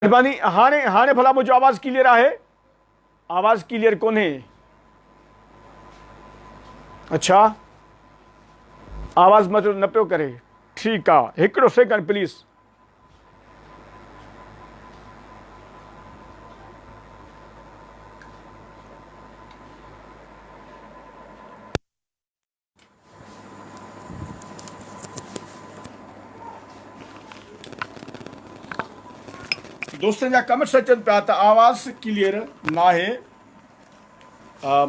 مھرباني ھاڻي ھاڻي ڀلا منھنجو آواز ڪليئر آھي آواز ڪليئر ڪونھي اڇا آواز مٿو نه پيو ڪري ٺيڪ آ ھڪڙو سيڪنڊ پليز دوستن جا ڪمينٽس اچن پيا ته آواز ڪليئر ناهي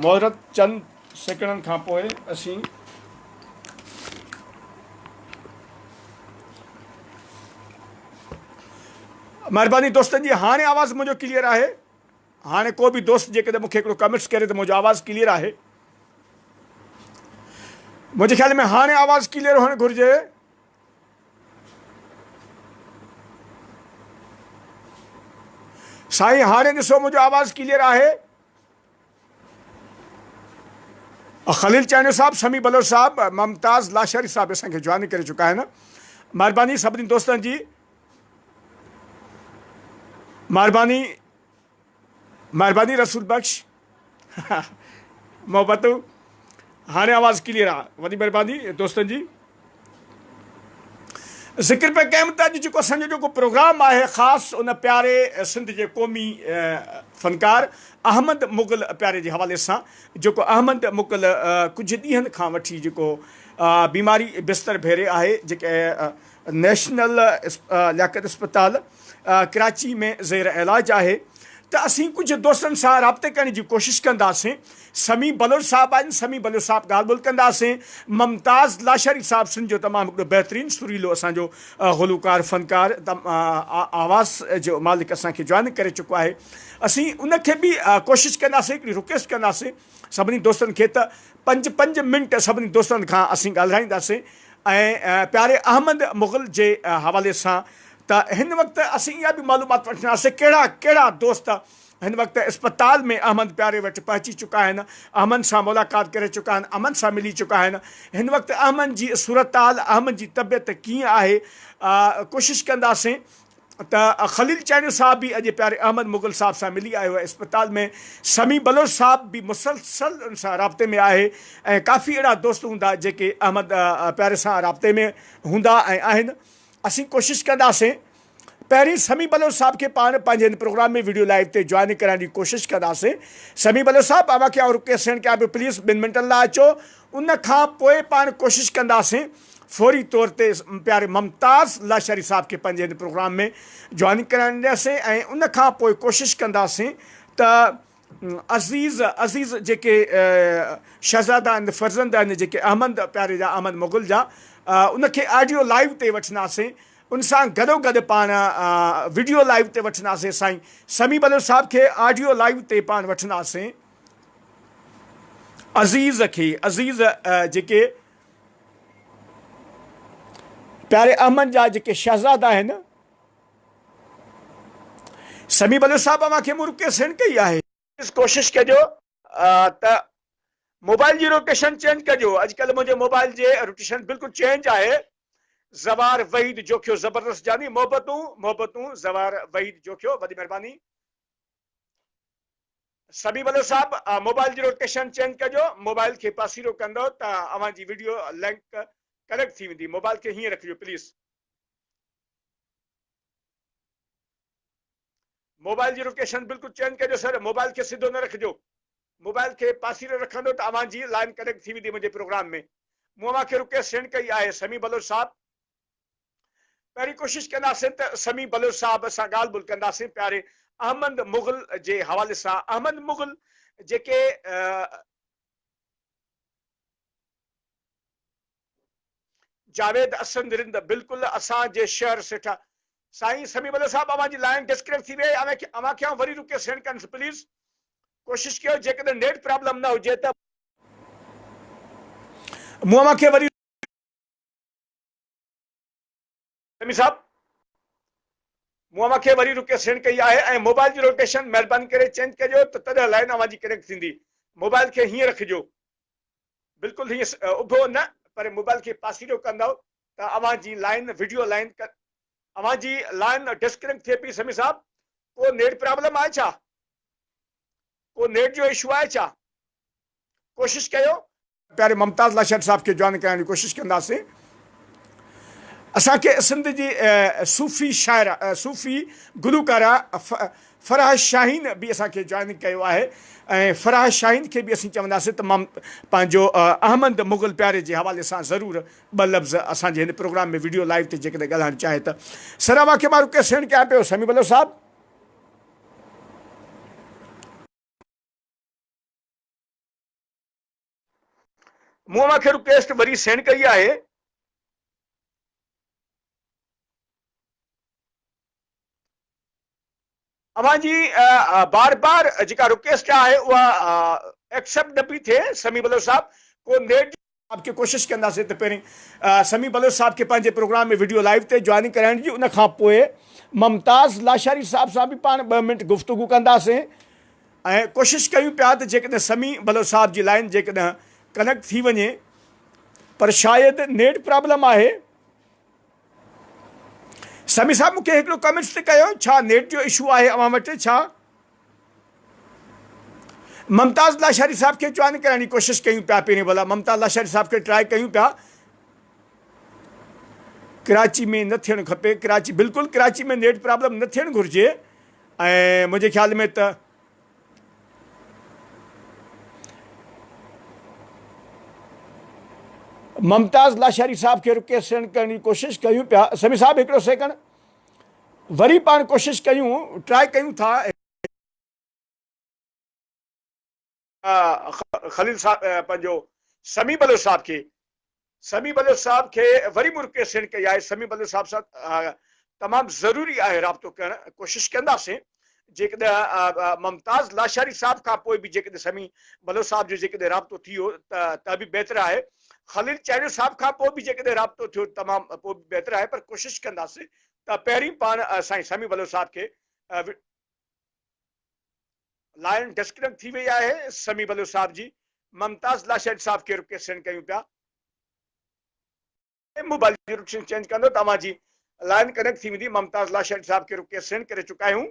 معذرت چند سيڪنڊن کان پوء اسين مهرباني دوستن جي هاڻي آواز منهنجو ڪليئر آهي هاڻي ڪو به دوست جيڪڏهن مونکي هڪڙو ڪميٽس ڪري ته منهنجو آواز ڪليئر آهي منهنجي خيال ۾ هاڻي آواز ڪليئر هئڻ گهرجي سائين هاڻي ڏسو منهنجو آواز ڪليئر آهي خليل چانيو صاحب سمي بلوچ صاحب ممتاز لاشاري صاحب اسان کي جوائن ڪري چڪا آهن مهرباني سڀني دوستن جي مهرباني مھرباني رسول بخش محبتون ھاڻي آواز ڪليئر آ وڏي مھرباني دوستن جي ذڪر پي ڪيم ته اڄ جيڪو اسان جو جيڪو پروگرام آهي خاص ان پياري سنڌ جي قومي فنڪار احمد مغل پياري جي حوالي سان جيڪو احمد مغل ڪجهه ڏينهن کان وٺي جيڪو بيماري بستر ڀيري آهي جيڪي نيشنل لياقت اسپتال ڪراچي ۾ زير علاج آهي ته اسين ڪجهه دوستن سان رابطي ڪرڻ جي ڪوشش ڪنداسين سميع بلوچ صاحب آهن سميع بلوچ صاحب ڳالهه ٻولهه ڪنداسين ممتاز لاشاري صاحب سنڌ جو تمام هڪڙو بهترين سريلو اسان جو گلوڪار فنڪار آواز جو مالڪ اسان کي جوائن ڪري چڪو آهي اسين ان کي به ڪوشش ڪنداسين هڪڙي رڪويسٽ ڪنداسين سڀني دوستن کي ته پنج پنج منٽ سڀني دوستن کان اسين ڳالهرائينداسين ۽ پياري احمد مغل جي حوالي سان ته هن وقت اسين اها به معلومات وٺنداسين ڪهڙا ڪهڙا دوست هن وقت اسپتال ۾ احمد پياري وٽ پهچي چڪا آهن احمد سان ملاقات ڪري چڪا آهن احمد سان ملي چڪا آهن هن وقت احمد جي صورتحال احمد جي طبيعت ڪيئن آهي ڪوشش ڪنداسين ته خليل چانيو صاحب به اڄ پياري احمد مغل صاحب سان ملي آيو آهي اسپتال ۾ سميع بلوچ صاحب به مسلسل ان سان رابطي ۾ آهي ۽ ڪافي اهڙا دوست هوندا جيڪي احمد پياري سان رابطي ۾ هوندا ۽ آهن اسين ڪوشش ڪنداسين. پهرين سميع بلوچ صاحب کي پاڻ پنهنجي هن پروگرام ۾ ويڊيو لائيو تي جوائن ڪرائڻ جي ڪوشش ڪنداسين. سميع بلوچ صاحب اوهان کي آئون رڪويسٽ سينڊ ڪيان پيو پليز ٻن منٽن لاء اچو ان کان پوء پاڻ ڪوشش ڪنداسين فوري طور تي پياري ممتاز لاشاري صاحب کي پنهنجي هن پروگرام ۾ جوائن ڪرائڻ ڏياسين ۽ ان کان پوء ڪوشش ڪنداسين ته عزيز عزيز جيڪي شهزادا آهن فرزند آهن جيڪي احمد پياري جا احمد مغل جا ان کي آڊيو لائيو تي وٺنداسين ان سان گڏو گڏ پاڻ وڊيو لائيو تي وٺنداسين سائين سمي بلوچ صاحب کي آڊيو لائيو تي پاڻ وٺنداسين عزيز کي عزيز جيڪي پياري احمد جا جيڪي شهزادا آهن سمي بلوچ صاحب اوهان کي مون رڪي سينڊ ڪئي آهي. پليز ڪوشش ڪجو ته موبائل جي روٽيشن چينج ڪجو اڄ ڪلهه منهنجي موبائل جي روٽيشن بلڪل چينج آهي زوار وحيد جوکيو زبردست جاني محبتون محبتون زوار وحيد جوکيو وڏي مهرباني سمي بلوچ صاحب موبائل جي روٽيشن چينج ڪجو موبائل کي پاسيرو ڪندو ته اوهان جي ويڊيو لينڪ ڪريڪٽ ٿي ويندي موبائل کي هيئن رکجو پليز موبائل جي لوڪيشن بلڪل چينج ڪجو سر موبائل کي سڌو نه رکجو موبائل کي پاسيري رکندو ته اوهان جي لائن ڪنيڪٽ ٿي ويندي منهنجي پروگرام ۾ مون اوهان کي رڪويسٽ سينڊ ڪئي آهي سميع بلوچ صاحب پهرين ڪوشش ڪنداسين ته سميع بلوچ صاحب سان ڳالهه ٻولهه ڪنداسين پياري احمد مغل جي حوالي سان احمد مغل جيڪي جاويد اسند رند بلڪل اسان جي شهر سيٺا. سائين سميع بلوچ صاحب اوهان جي لائين ڊسڪنيڪٽ ٿي ويئي اوهان کي اوهان کي آئون وري رڪي سينڊ ڪريان ٿو پليز ڪوشش ڪيو جيڪڏهن نيٽ پرابلم نه هجي ته مون اوهان کي وري سمي صاحب مون اوهان کي وري رڪيس سينڊ ڪئي آهي ۽ موبائل جي روٽيشن مهرباني ڪري چينج ڪجو ته تڏهن لائين اوهان جي ڪنيڪٽ ٿيندي موبائل کي هيئن رکجو بلڪل هيئن اڀو نه پر موبائل کي پاسيرو ڪندؤ ته اوهان جي لائين وڊيو لائين اوهان جي لائين ڊسڪنيڪٽ ٿئي پئي سمي صاحب ڪو نيٽ پرابلم آهي ڇا ڪو نيٽ جو اشو آهي ڇا ڪوشش ڪيو پياري ممتاز لاشاري صاحب کي جوائن ڪرائڻ جي ڪوشش ڪنداسين اسان کي سنڌ جي صوفي شاعره صوفي گلوڪاره فرح شاهين به اسان کي جوائن ڪيو آهي ۽ فرح شاهين کي به اسين چونداسين ته مم پنهنجو احمد مغل پياري جي حوالي سان ضرور ٻه لفظ اسان جي هن پروگرام ۾ ويڊيو لائيو تي جيڪڏهن ڳالهائڻ چاهي ته سراوا کي مارو ڪيس سيڻ ڪيا پيو سمي بلو صاحب مون اوهان کي رڪويسٽ وري سينڊ ڪئي آهي. اوهان جي بار بار جيڪا رڪويسٽ آهي اها ايڪسيپٽ نه پئي ٿئي سميع بلوچ صاحب ڪو نيٽ جي آب کي ڪوشش ڪنداسين ته پهرين سميع بلوچ صاحب کي پنهنجي پروگرام ۾ وڊيو لائيو تي جوائننگ ڪرائڻ جي ان کان پوء ممتاز لاشاري صاحب سان به پاڻ ٻه منٽ گفتگو ڪنداسين. ۽ ڪوشش ڪيون پيا ته جيڪڏهن سمي بلوچ صاحب جي لائين جيڪڏهن ڪنيڪٽ ٿي وڃي پر شايد نيٽ پرابلم آهي. سمي صاحب مونکي هڪڙو ڪمينٽس تي ڪيو ڇا نيٽ جو اشو آهي اوهان وٽ ڇا؟ ممتاز لاشاري صاحب کي جوائن ڪرائڻ جي ڪوشش ڪيون پيا پهرين ڀلا ممتاز لاشاري صاحب کي ٽرائي ڪيون پيا ڪراچي ۾ نه ٿيڻ کپي ڪراچي بلڪل ڪراچي ۾ نيٽ پرابلم نه ٿيڻ گهرجي ۽ منهنجي خيال ۾ ته ممتاز لاشاري صاحب کي رڪي سيڻ ڪرڻ جي ڪوشش ڪيون پيا سمي صاحب هڪڙو سيڪنڊ وري پاڻ ڪوشش ڪيون ٽرائي ڪيون ٿا. خليل صاحب پنهنجو سميع بلوچ صاحب کي سميع بلوچ صاحب کي وري مون رڪويسٽ سينڊ ڪئي آهي سميع بلوچ صاحب سان تمام ضروري آهي رابطو ڪرڻ ڪوشش ڪنداسين جيڪڏهن ممتاز لاشاري صاحب کان پوء به جيڪڏهن سميع بلوچ صاحب جو جيڪڏهن رابطو ٿي ويو ته ته به بهتر آهي خليل چانڊيو صاحب کان پوء به جيڪڏهن رابطو ٿيو تمام پوء به بهتر آهي پر ڪوشش ڪنداسين ته پهرين پاڻ سائين سميع بلوچ صاحب کي لائن ڊسڪنڪٽ ٿي وئي آهي سمي بلوچ صاحب جي ممتاز لاشيد صاحب کي رڪيسٽن ڪيون پيا موبائل جي رڪشن چينج ڪندو توهان جي لائن ڪنيڪٽ ٿي ويندي ممتاز لاشيد صاحب کي رڪيس سينڊ ڪري چڪا آهيون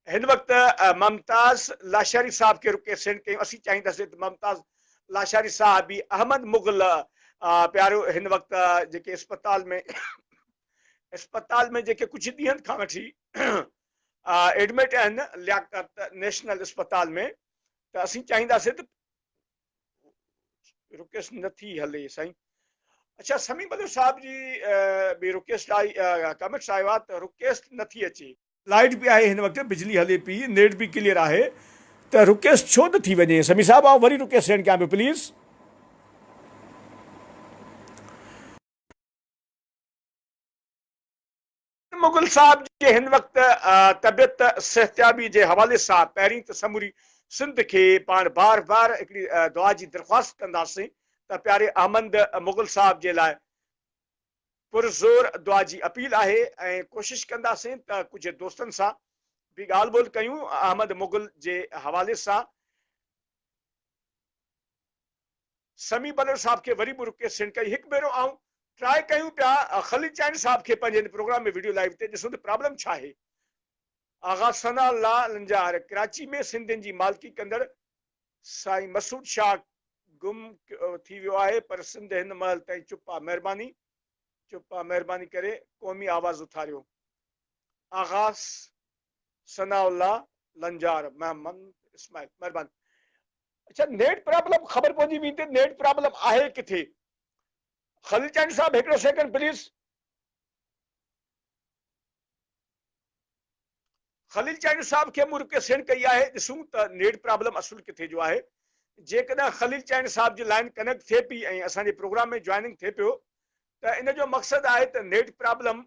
هن وقت ممتاز لاشاري صاحب کي رڪي سينڊ ڪيون اسين چاهينداسين ته ممتاز لاشاري صاحب به احمد مغل پيارو هن وقت جيڪي اسپتال ۾ اسپتال ۾ جيڪي ڪجهه ڏينهن کان وٺي ايڊمٽ آهن لياقت نيشنل اسپتال ۾ ته اسين چاهينداسين ته رڪيس نٿي هلي سائين اچھا سمي بدر صاحب جي به رڪيس لاء ڪمنٽس آيو آ ته رڪيس نٿي اچي لائٽ به آهي هن وقت بجلي هلي پي نيٽ به ڪليئر آهي ته رڪيس ڇو نه ٿي وڃي سمي صاحب آء وري رڪيس سينڊ ڪيان پيو پليز مغل صاحب جي هن وقت طبيعت صحتيابي جي حوالي سان پهرين ته سموري سنڌ کي پاڻ بار بار هڪڙي دعا جي درخواست ڪنداسين ته پياري احمد مغل صاحب جي لاء پرزور دعا جي اپيل آهي ۽ ڪوشش ڪنداسين ته ڪجهه دوستن سان به ڳالهه ٻولهه ڪيون احمد مغل جي حوالي سان. سمي بلر صاحب کي وري به رڪي سينڊ ڪئي هڪ ڀيرو آئون ٽرائي ڪيون پيا خليل چائني صاحب کي پنهنجي هن پروگرام ۾ وڊيو لائيو تي ڏسون ته پرابلم ڇا آهي آغا ثناء الله لنجار ڪراچي ۾ سنڌين جي مالڪي ڪندڙ سائين مسعود شاهه گم ٿي ويو آهي پر سنڌ هن مهل تائين چپ آ مهرباني چپ آ مهرباني ڪري قومي آواز اٿاريو آغا ثناء الله لنجار محمد اسماعيل مهرباني اچا نيٽ پرابلم خبر پوندي وين تي نيٽ پرابلم آهي ڪٿي خليل چانڊي صاحب هڪڙو سيڪنڊ پليز خليل چانڊي صاحب کي مون رڪي سينڊ ڪئي آهي ڏسون ته نيٽ پرابلم اصل ڪٿي جو آهي جيڪڏهن خليل چانڊي صاحب جي لائن ڪنيڪٽ ٿئي پي ۽ اسان جي پروگرام ۾ جوائننگ ٿئي پيو ته ان جو مقصد آهي ته نيٽ پرابلم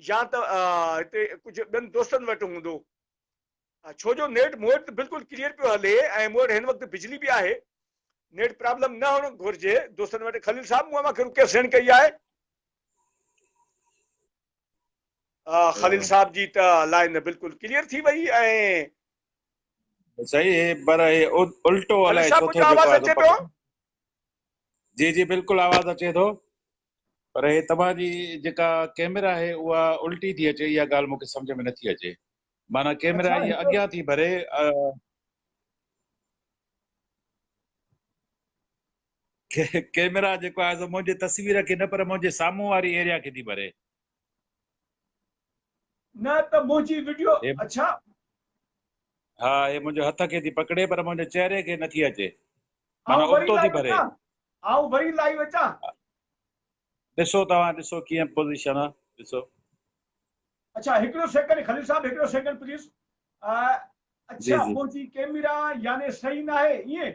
يا ته هتي ڪجهه ٻين دوستن وٽ هوندو ڇو جو نيٽ مون وٽ ته بلڪل ڪليئر پيو هلي ۽ مون وٽ هن وقت بجلي به آهي نيٽ پرابلم نه هئڻ گهرجي دوستن وٽ خليل صاحب مون اوهان کي رڪيس سينڊ ڪئي آهي خليل صاحب جي ته لائن بلڪل ڪليئر ٿي وئي ۽ صحيح هي پر هي الٽو الائي ڇو ٿو آواز اچي پيو جي جي بلڪل آواز اچي ٿو پر هي توهان جي جيڪا ڪيمرا آهي اها الٽي ٿي اچي اها ڳالهه مون کي سمجهه ۾ نٿي اچي معنيٰ ڪيمرا اها اڳيان ٿي ڀري ڪيمرا جيڪو آهي سو منهنجي تصوير کي نه پر منهنجي سامهون واري ايريا کي ٿي ڀري نه ته منهنجي وڊيو اڇا. ها هي منهنجي هٿ کي ٿي پڪڙي پر منهنجي چهري کي نٿي اچي معنيٰ ابتو ٿي ڀري. آئون وري لائيو اچان. ڏسو توهان ڏسو ڪيئن پوزيشن آ ڏسو. اڇا هڪڙو سيڪنڊ خليل صاحب هڪڙو سيڪنڊ پليز اڇا منهنجي ڪيميرا يعني صحيح ناهي ائين.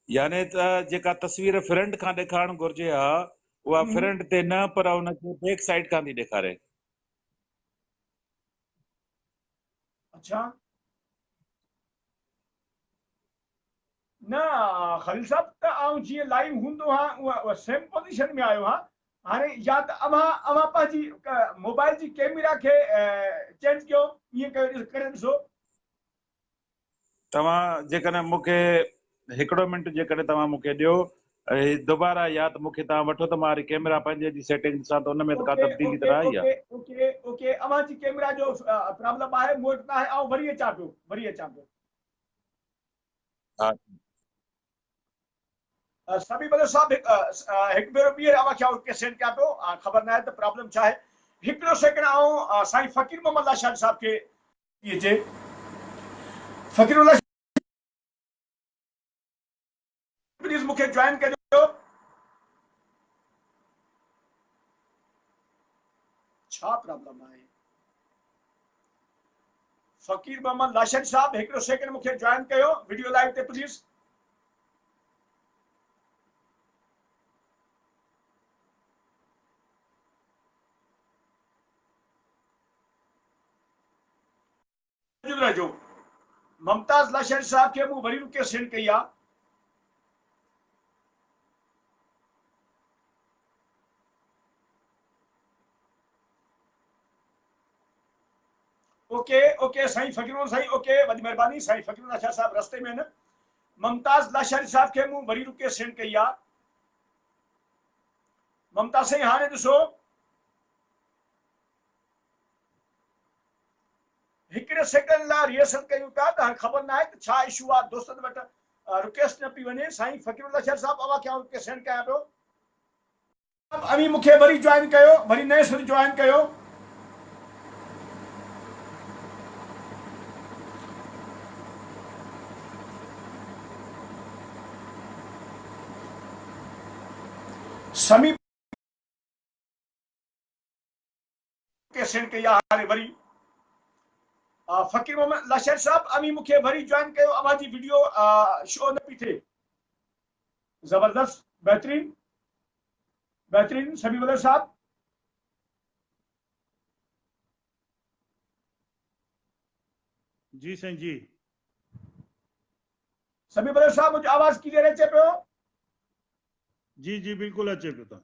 يعني ته جيڪا تصوير فرنٽ کان ڏيکارڻ گهرجي ها اها فرنٽ تي نه پر ان کي بيڪ سائيڊ کان ٿي ڏيکاري اچھا نه خليل صاحب ته آئون جيئن لائيو هوندو ها اها سيم پوزيشن ۾ آيو ها هاڻي يا ته اوهان اوهان پنهنجي موبائل جي ڪيميرا کي چينج ڪيو ائين ڪري ڏسو توهان جيڪڏهن مون کي هڪڙو منٽ جيڪڏهن توهان مون کي ڏيو هي دوباره يا ته مون کي توهان وٺو ته مان هري ڪيمرا پنهنجي جي سيٽنگ ڏسان ته ان ۾ ته ڪا تبديلي ته نه آئي آهي. اوڪي اوڪي اوهان جي ڪيمرا جو پرابلم آهي مون وٽ ناهي آئون وري اچان پيو وري اچان پيو. ها. سمي بلو صاحب هڪ ڀيرو ٻيهر اوهان کي اوڪي سينڊ ڪيان پيو خبر ناهي ته پرابلم ڇا آهي هڪڙو سيڪنڊ آئون سائين فقير محمد لاشاري صاحب کي ٿي اچي. فقير الله شاهه پليز مون کي جوائن ڪجو. ڇا پرابلم آهي فقير محمد لاشر صاحب هڪڙو سيڪنڊ مون کي جوائن ڪيو ويڊيو لائيو تي پليز. موجود رهجو ممتاز لاشاري صاحب کي مون وري رڪي سينڊ ڪئي آ. اوڪي اوڪي سائين فقيرون سائين اوڪي وڏي مهرباني سائين فقيرون لاشاري صاحب رستي ۾ نه ممتاز لاشاري صاحب کي مون وري رڪي سينڊ ڪئي آ. ممتاز سائين هاڻي ڏسو هڪڙي سيڪنڊ لاء ريهرسل ڪيون پيا ته هاڻي خبر ناهي ته ڇا اشو آ دوستن وٽ رڪيسٽ نه پي وڃي سائين فقير الله شير صاحب اوهان کي آئون رڪيسٽ سينڊ ڪيان پيو ته اوهين مون کي وري جوائن ڪيو وري نئين سر جوائن ڪيو سمي ڪيسٽ ڪئي آ هاڻي وري. فقير محمد الله شير صاحب اوهين مونکي وري جوائن ڪيو اوهان جي وڊيو شو نه پي ٿئي زبردست بهترين بهترين سميع ملر صاحب جي سائين جي سميع ملر صاحب منهنجو آواز ڪليئر اچي پيو جي جي بلڪل اچي پيو تان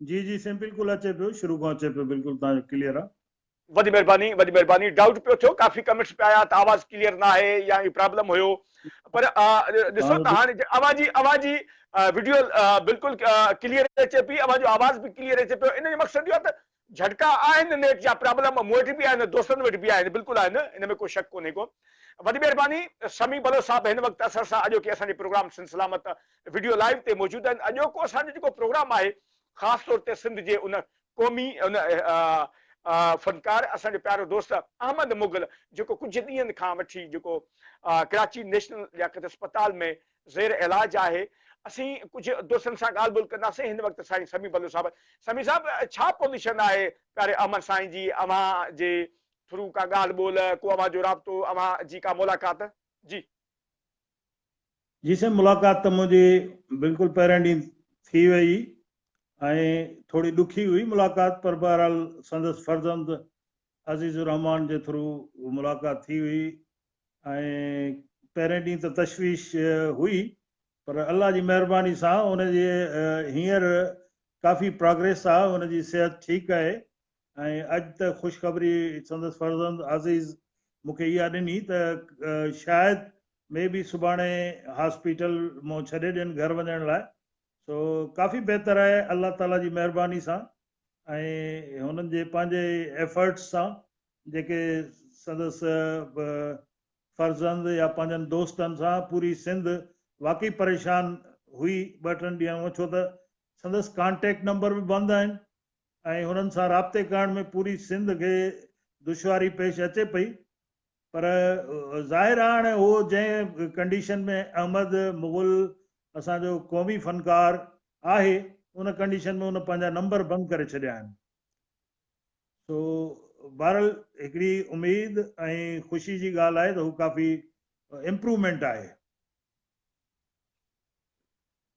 جي جي سائين بلڪل اچي پيو شروع کان اچي پيو بلڪل تان جو ڪليئر آ. وڏي مھرباني وڏي مھرباني ڊائوٽ پيو ٿيو ڪافي ڪمينٽس پيا آيا ته آواز ڪليئر ناھي يا اھي پرابلم ھيو پر ڏسو ته ھاڻي اوھان جي اوھان جي وڊيو بلڪل ڪليئر اچي پئي اوھان جو آواز به ڪليئر اچي پيو ان جو مقصد اھو آ ته جهٽڪا آهن نيٺ جا پرابلم مون وٽ به آهن دوستن وٽ به آهن بلڪل آهن ان ۾ ڪو شڪ ڪونهي ڪو وڏي مهرباني سميع بلوچ صاحب هن وقت اسان سان اڄوڪي اسان جي program Sindh Salamat video live تي موجود آهن اڄوڪو اسان جو جيڪو پروگرام آهي خاص طور تي سنڌ جي ان قومي ان فنڪار اسان جو پيارو دوست احمد مغل جيڪو ڪجهه ڏينهن کان وٺي جيڪو ڪراچي نيشنل لياقت اسپتال ۾ زير علاج آهي اسين ڪجهه دوستن سان ڳالهه ٻولهه ڪنداسين هن وقت سائين سميع بلوچ صاحب سميع صاحب ڇا پوزيشن آهي پياري احمد سائين جي اوهان جي ٿرو ڪا ڳالهه ٻولهه ڪو اوهان جو رابطو اوهان جي ڪا ملاقات جي. جي سائين ملاقات ته منهنجي بلڪل پهرين ڏينهن ٿي وئي ۽ ٿوري ڏکي هئي ملاقات پر بهرحال سندس فرزند عزيز الرحمان جي ٿرو ملاقات ٿي هئي ۽ پهرين ڏينهن ته تشويش هئي پر الله جي مهرباني سان ان جي هينئر ڪافي پراگريس آ ان جي صحت ٺيڪ آهي ۽ اڄ ته خوشخبري سندس فرزند عزيز مونکي اها ڏني ته شايد مي بي سڀاڻي هاسپيٽل مون ڇڏي ڏين گهر وڃڻ لاء سو ڪافي بهتر آهي الله تعالي جي مهرباني سان ۽ هنن جي پنهنجي ايفرٽس سان جيڪي سندس فرزند يا پنهنجن دوستن سان پوري سنڌ واقعي پريشان هئي ٻه ٽن ڏينهن هونء ڇو ته سندس ڪانٽيڪٽ نمبر به بند آهن ۽ هنن سان رابطي ڪرڻ ۾ پوري سنڌ کي دشواري پيش اچي پئي پر ظاهر آ هاڻي هو جنهن ڪنڊيشن ۾ احمد مغل اسان جو قومي فنڪار آهي ان ڪنڊيشن ۾ ان پنهنجا نمبر بند ڪري ڇڏيا آهن سو بهرحال هڪڙي اميد ۽ خوشي جي ڳالهه آهي ته هو ڪافي امپرومينٽ آهي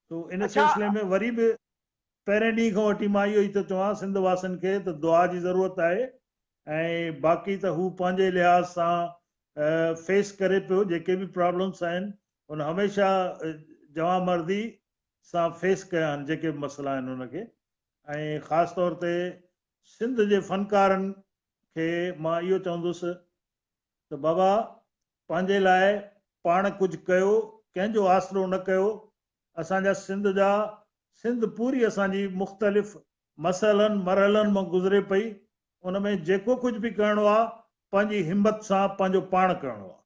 سو ان اڇا سلسلي ۾ وري به پهرين ڏينهن کان وٺي مان اهو ئي ٿو چوان سنڌ واسين کي ته دعا جي ضرورت آهي ۽ باقي ته هو پنهنجي لحاظ سان فيس ڪري پيو جيڪي به پرابلمس آهن ان هميشه جوان مردي سان فيس ڪيا آهن جيڪي مسئلا آهن ان کي ۽ خاص طور تي سنڌ جي فنڪارن کي مان اهو چوندس ته بابا پنهنجي لاء پاڻ ڪجهه ڪيو، ڪنهن جو آسرو نه ڪيو، اسان جا سنڌ جا سنڌ پوري اسان جي مختلف مسئلن مرحلن مان گذري پئي، ان ۾ جيڪو ڪجهه به ڪرڻو آ پنهنجي همت سان پنهنجو پاڻ ڪرڻو آ.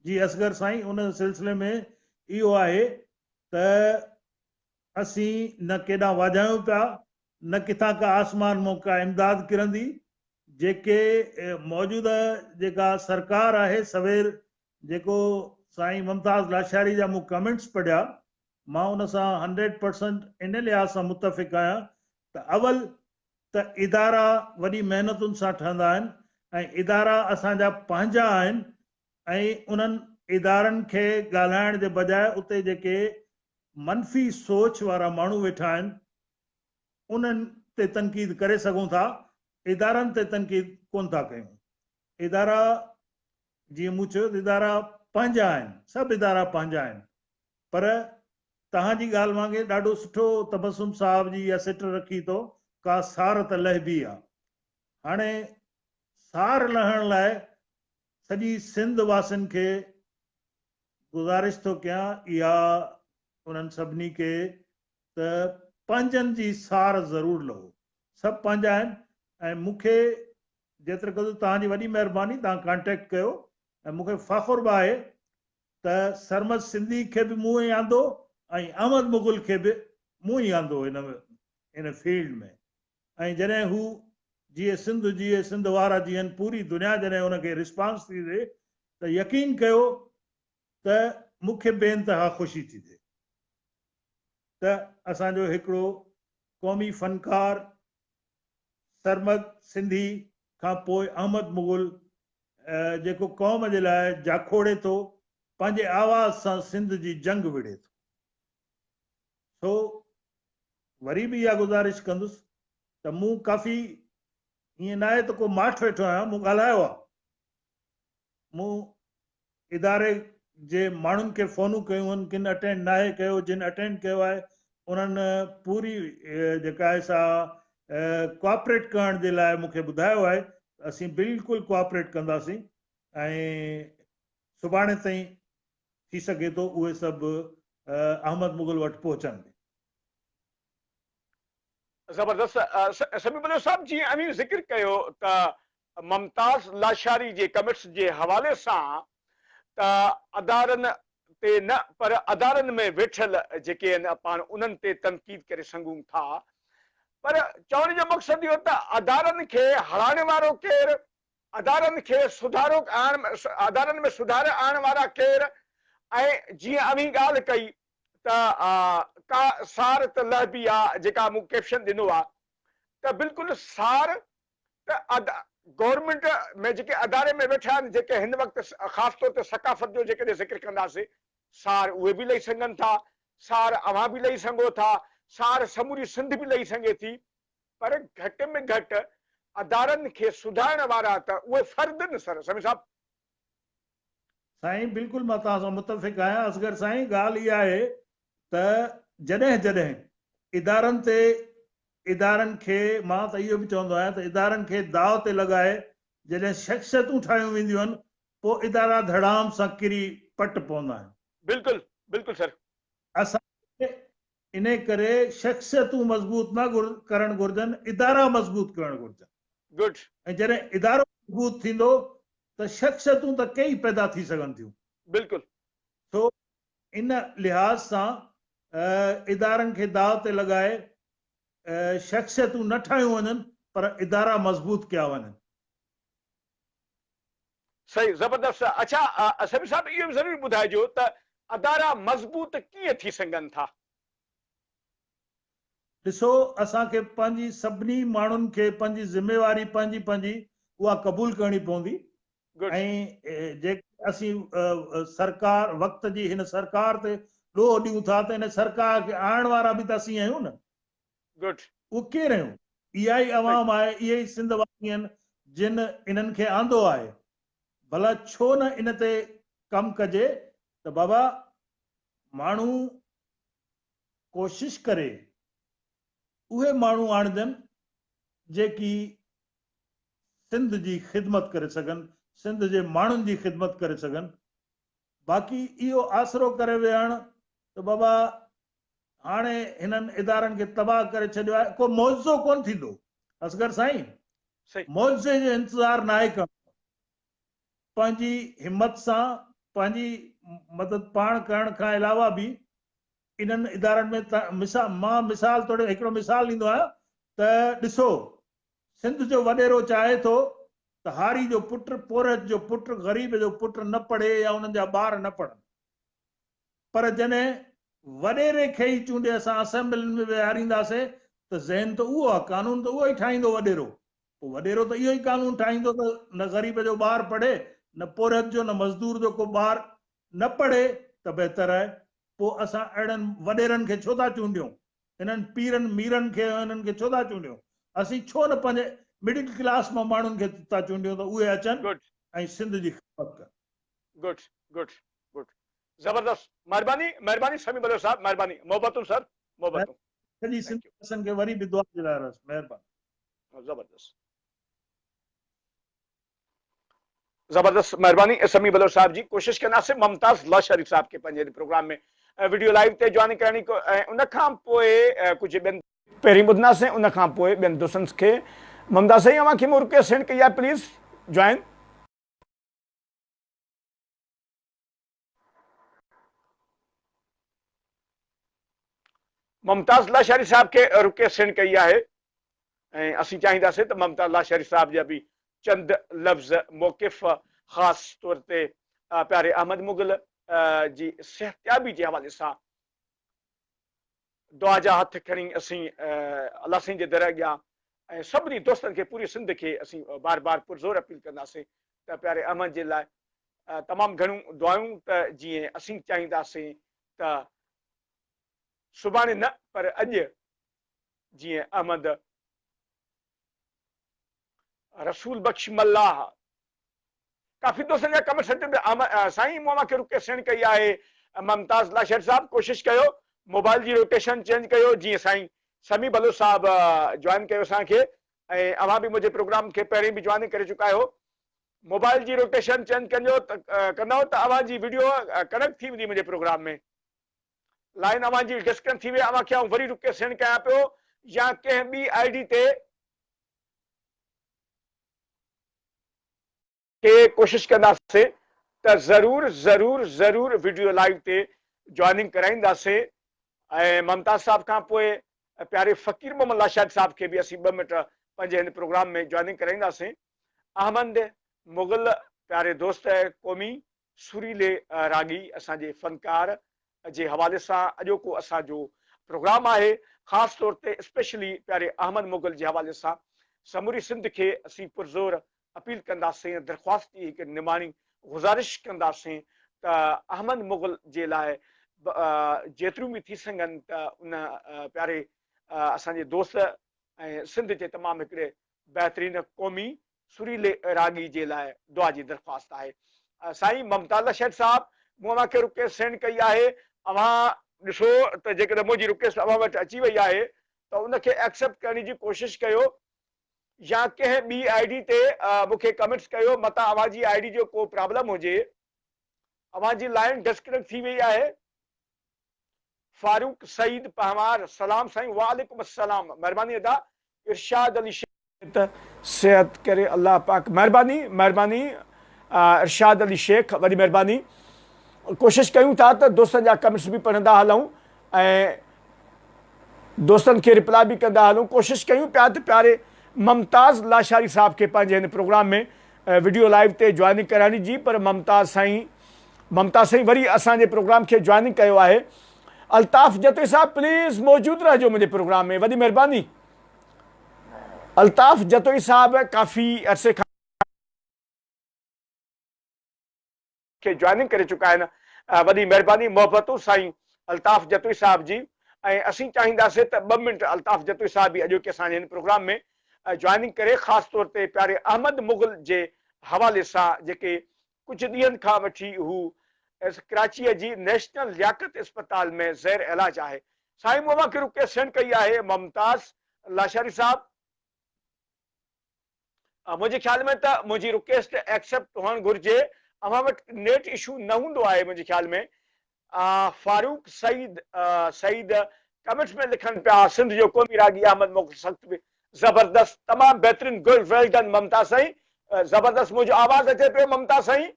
جي اصغر سائين ان سلسلي ۾ اهو آهي ته اسين نه ڪيڏانهن واجهايون پيا، نه ڪٿان ڪا آسمان مون ڪا امداد ڪرندي، جيڪي موجوده جيڪا سرڪار آهي سوير جيڪو سائين ممتاز لاشاري جا مون ڪمينٽس پڙهيا مان ان سان هنڊريڊ پرسنٽ ان لحاظ سان متفق آهيان ته اول ته ادارا وڏي محنتن سان ٺهندا آهن ۽ ادارا اسان جا پنهنجا آهن ۽ انهن ادارن کي ڳالهائڻ جي بجاء اتي جيڪي منفي سوچ وارا ماڻهو ويٺا آهن انهن تي تنقيد ڪري سگهون ٿا ادارن تي تنقيد ڪونه ٿا ڪيون ادارا جيئن مون چيو ته ادارا پنهنجا آهن سڀ ادارا پنهنجا آهن پر توهان جي ڳالهه وانگي ڏاڍو سٺو تبسم صاحب جي اها سٽ رکي تو ڪا سار ته لهبي آ هاڻي سار لهڻ لاء سڄي سنڌ واسين کي گذارش ٿو ڪيان اها انهن سڀني کي ته پنهنجن جي سار ضرور لهو سڀ پنهنجا آهن ۽ مون کي جيتر قدر توهان جي وڏي مهرباني توهان ڪانٽيڪٽ ڪيو ۽ مون کي فخر به آهي ته سرمد سنڌي کي به مون ئي آندو ۽ احمد مغل کي به مون ئي آندو ان ان فيلڊ ۾ ۽ جڏهن هو جيئي سنڌ جيئي سنڌ وارا جيئن پوري دنيا جڏهن ان کي رسپانس ٿي ڏي ته يقين ڪيو ته مون کي بي انتها خوشي ٿي ٿئي ته اسان جو هڪڙو قومي فنڪار سرمد سنڌي کان پوء احمد مغل جيڪو قوم جي لاء جاکوڙي ٿو پنهنجي آواز سان سنڌ جي جنگ وڙهي ٿو. سو وري به اها گذارش ڪندس ته مون ڪافي ائين ناهي ته ڪو ماٺ ويٺو آهيان مون ڳالهايو آهي مون اداري جي ماڻهن کي فونون ڪيون آهن ڪن اٽينڊ ناهي ڪيو جن اٽينڊ ڪيو آهي انهن پوري جيڪا آهي سا ڪوآپريٽ ڪرڻ جي لاء مون کي ٻڌايو آهي اسين بلڪل ڪوآپريٽ ڪنداسين ۽ سڀاڻي تائين ٿي سگهي ٿو اهي سڀ احمد مغل وٽ پهچن به. زبردست سميع بلوچ صاحب جيئن اوهين ذڪر ڪيو ته ممتاز لاشاري جي ڪميٽس جي حوالي سان ته ادارن تي نه پر ادارن ۾ ويٺل جيڪي آهن پاڻ انهن تي تنقيد ڪري سگهون ٿا پر چوڻ جو مقصد اهو ته ادارن کي هرائڻ وارو ڪير ادارن کي سڌارو آڻڻ ادارن ۾ سڌار آڻڻ وارا ڪير ۽ جيئن اوهين ڳالهه ڪئي ته ڪا سار ته لهبي آ جيڪا مون ڪيپشن ڏنو آ ته بلڪل سار ته ادا گورنمينٽ ۾ جيڪي اداري ۾ ويٺا آهن جيڪي هن وقت خاص طور تي ثقافت جو جيڪڏهن ذڪر ڪنداسين سار اهي به لهي سگهن ٿا سار اوهان به لهي سگهو ٿا سار سموري سنڌ به لهي سگهي ٿي پر گهٽ ۾ گهٽ ادارن کي سڌارڻ وارا ته اهي فرد نه سر. سمي صاحب. سائين بلڪل مان توهان سان متفق آهيان اصغر سائين ڳالهه اها آهي ته جڏهن جڏهن ادارن تي ادارن کي مان ته اهو به چوندو آهيان ته ادارن کي داء تي لڳائي جڏهن شخصيتون ٺاهيون وينديون آهن پوء ادارا ڌڙام سان ڪري پٽ پوندا آهن. بلڪل بلڪل سر. اسان کي انهيء ڪري شخصيتون مضبوط نه ڪرڻ گهرجن، ادارا مضبوط ڪرڻ گهرجن. Good. ۽ جڏهن ادارو مضبوط ٿيندو ته شخصيتون ته ڪيئي پيدا ٿي سگهن ٿيون. بلڪل. سو ان لحاظ سان ادارن کي داء تي لڳائي شخصيتون نه ٺاهيون وڃن پر ادارا مضبوط ڪيا وڃن. صحيح زبردست اڇا سمير صاحب اهو به ضرور ٻڌائجو ته ادارا مضبوط ڪيئن ٿي سگهن ٿا. ڏسو اسان کي پنهنجي سڀني ماڻهن کي پنهنجي ذميواري پنهنجي پنهنجي اها قبول ڪرڻي پوندي ۽ جيڪي اسين سرڪار وقت جي هن سرڪار تي ڏوهه ڏيون ٿا ته ان سرڪار کي آڻڻ وارا به ته اسين آهيون نه گڊ. اهو ڪير هيون؟ اها ئي عوام آهي، اهي ئي سنڌ واسي آهن جن انهن کي آندو آهي. ڀلا ڇو نه ان تي ڪم ڪجي ته بابا ماڻهو ڪوشش ڪري اهي ماڻهو آڻجن جيڪي سنڌ جي خدمت ڪري سگهن، سنڌ جي ماڻهن جي خدمت ڪري سگهن. باقي اهو آسرو ڪري ويهڻ ته بابا هاڻي هنن ادارن کي تباهه ڪري ڇڏيو آهي، ڪو معجزو ڪونه ٿيندو اصغر سائين، معجزي جو انتظار ناهي ڪرڻو، پنهنجي همت سان پنهنجي مدد پاڻ ڪرڻ کان علاوه به انهن ادارن ۾ مان مثال توڙي هڪڙو مثال ڏيندو آهيان ته ڏسو سنڌ جو وڏيرو چاهي ٿو ته هاري جو پٽ، پورهيت جو پٽ، غريب جو پٽ نه پڙهي يا انهن جا ٻار نه پڙهن. پر جڏهن وڏيري کي ئي چونڊي اسان اسيمبلين ۾ ويهارينداسين ته ذهن ته اهو آهي، قانون ته اهو ئي ٺاهيندو وڏيرو. پوء وڏيرو ته اهو ئي قانون ٺاهيندو ته نه غريب جو ٻار پڙهي، نه پورهيت جو، نه مزدور جو ڪو ٻار نه پڙهي ته بهتر آهي، پوء اسان اهڙن وڏيرن کي ڇو ٿا چونڊيون، هنن پيرن ميرن کي ۽ انهن کي ڇو ٿا چونڊيون، اسين ڇو نه پنهنجي مڊل ڪلاس مان ماڻهن کي ٿا چونڊيون ته اهي اچن Good. ۽ سنڌ جي خدمت ڪن. گڊ گڊ گڊ زبردست مھرباني مھرباني سميع بلوچ صاحب مھرباني محبتون سر محبتون سڄي Thank سنڌ you. واسين کي وري به دعا جي لاء رس مهرباني. زبردست. زبردست مهرباني سمي بلوچ صاحب جي ڪوشش ڪنداسين ممتاز الله شريف صاحب کي پنهنجي هن پروگرام ۾ وڊيو لائيو تي جواني ڪرڻي ۽ ان کان پوء ڪجهه ٻين پهرين ٻڌنداسين ان کان پوء ٻين دوستن کي ممتاز سائين اوهان کي مون رڪويسٽ سينڊ ڪئي آهي پليز جوائن. ممتاز لاشاري صاحب کي رڪي سين ڪئي آهي ۽ اسين چاهينداسين ته ممتاز لاشاري صاحب جا به چند لفظ موقف خاص طور تي پياري احمد مغل جي صحتيابي جي حوالي سان دعا جا هٿ کڻي اسين الله سائين جي در اڳيان ۽ سڀني دوستن کي پوري سنڌ کي اسين بار بار پرزور اپيل ڪنداسين ته پياري احمد جي لاء تمام گهڻيون دعائون ته جيئن اسين چاهينداسين ته سڀاڻي نه پر اڄ جيئن احمد رسول بخش ملاح ڪافي دوستن جا ڪمنٽ سٽن تي آ سائين مون اوهان کي رڪي سينڊ ڪئي آهي ممتاز الله شير صاحب ڪوشش ڪيو موبائل جي روٽيشن چينج ڪيو جيئن سائين سمي بلوچ صاحب جوائن ڪيو اسان کي ۽ اوهان به منهنجي پروگرام کي پهرين به جوائن ڪري چڪا آهيو موبائل جي روٽيشن چينج ڪنجو ڪندو ته اوهان جي ويڊيو ڪنيڪٽ ٿي ويندي منهنجي پروگرام ۾ لائن اوهان جي ڊسڪنيڪٽ ٿي وئي اوهان کي آئون وري رڪي سينڊ ڪيان پيو يا ڪنهن ٻي آئي ڊي تي کي ڪوشش ڪنداسين ته ضرور ضرور ضرور وڊيو لائيو تي جوائننگ ڪرائينداسين ۽ ممتاز صاحب کان پوء پياري فقير محمد لاشائق صاحب کي به اسين ٻه منٽ پنهنجي هن پروگرام ۾ جوائننگ ڪرائينداسين احمد مغل پياري دوست قومي سريلي راڳي اسان جي فنڪار جي حوالي سان اڄوڪو اسان جو پروگرام آهي خاص طور تي اسپيشلي پياري احمد مغل جي حوالي سان سموري سنڌ کي اسين پرزور اپيل ڪنداسين درخواست جي هڪ نماڻي گذارش ڪنداسين ته احمد مغل جي لاء جيتريون به ٿي سگهن ته ان پياري اسان جي دوست ۽ سنڌ جي تمام هڪڙي بهترين قومي سريلي راڳي جي لاء دعا جي درخواست آهي سائين ممتاز شيٽ صاحب مون اوهان کي رڪيس سينڊ ڪئي آهي اوهان ڏسو ته جيڪڏهن منهنجي رڪيسٽ اوهان وٽ اچي وئي آهي ته ان کي ايڪسيپٽ ڪرڻ جي ڪوشش ڪيو يا ڪنهن ٻي آئي ڊي تي مون کي ڪمينٽس ڪيو متان اوهان جي آئي ڊي جو ڪو پرابلم هجي اوهان جي لائين ڊسڪنيڪٽ ٿي وئي آهي. فاروق سعيد پنهوار، سلام سائين وعليڪم السلام مھرباني ادا ارشاد علي شيخ. ته صحت ڪري الله پاڪ. مھرباني مھرباني ارشاد علي شيخ وڏي مھرباني ڪوشش ڪيون ٿا ته دوستن جا ڪمينٽس به پڙهندا هلون ۽ دوستن کي رپلاء به ڪندا هلون ڪوشش ڪيون پيا ته پياري ممتاز لاشاري صاحب کي پنهنجي هن پروگرام ۾ وڊيو لائيو تي جوائننگ ڪرائڻي جي پر ممتاز سائين ممتاز سائين وري اسان جي پروگرام کي جوائننگ ڪيو آهي الطاف جتوئي صاحب پليز موجود رهجو منهنجي پروگرام ۾ وڏي مهرباني الطاف جتوئي صاحب ڪافي عرصي کان کي جوائننگ ڪري چڪا آهن وڏي مهرباني محبتون سائين الطاف جتوئي صاحب جي ۽ اسين چاهينداسين ته ٻه منٽ الطاف جتوئي صاحب به اڄوڪي اسان جي هن پروگرام ۾ جوائننگ ڪري خاص طور تي پياري احمد مغل جي حوالي سان جيڪي ڪجهه ڏينهن کان وٺي هو ڪراچيء جي نيشنل لياقت اسپتال ۾ زير علاج آهي. سائين مون وانگر رقيه سيڻ ڪئي آهي ممتاز لاشاري صاحب. منهنجي خيال ۾ ته منهنجي رڪيسٽ ايڪسيپٽ هئڻ گهرجي. اوهان وٽ نيٽ اشو نه هوندو آهي منهنجي خيال ۾. فاروق سعيد سعيد ڪمينٽس ۾ لکن پيا سنڌ جو قومي راڳي احمد مغل سخت به زبردست تمام بهترين گل ويل ڊن ممتا سائين زبردست منهنجو آواز اچي پيو ممتا سائين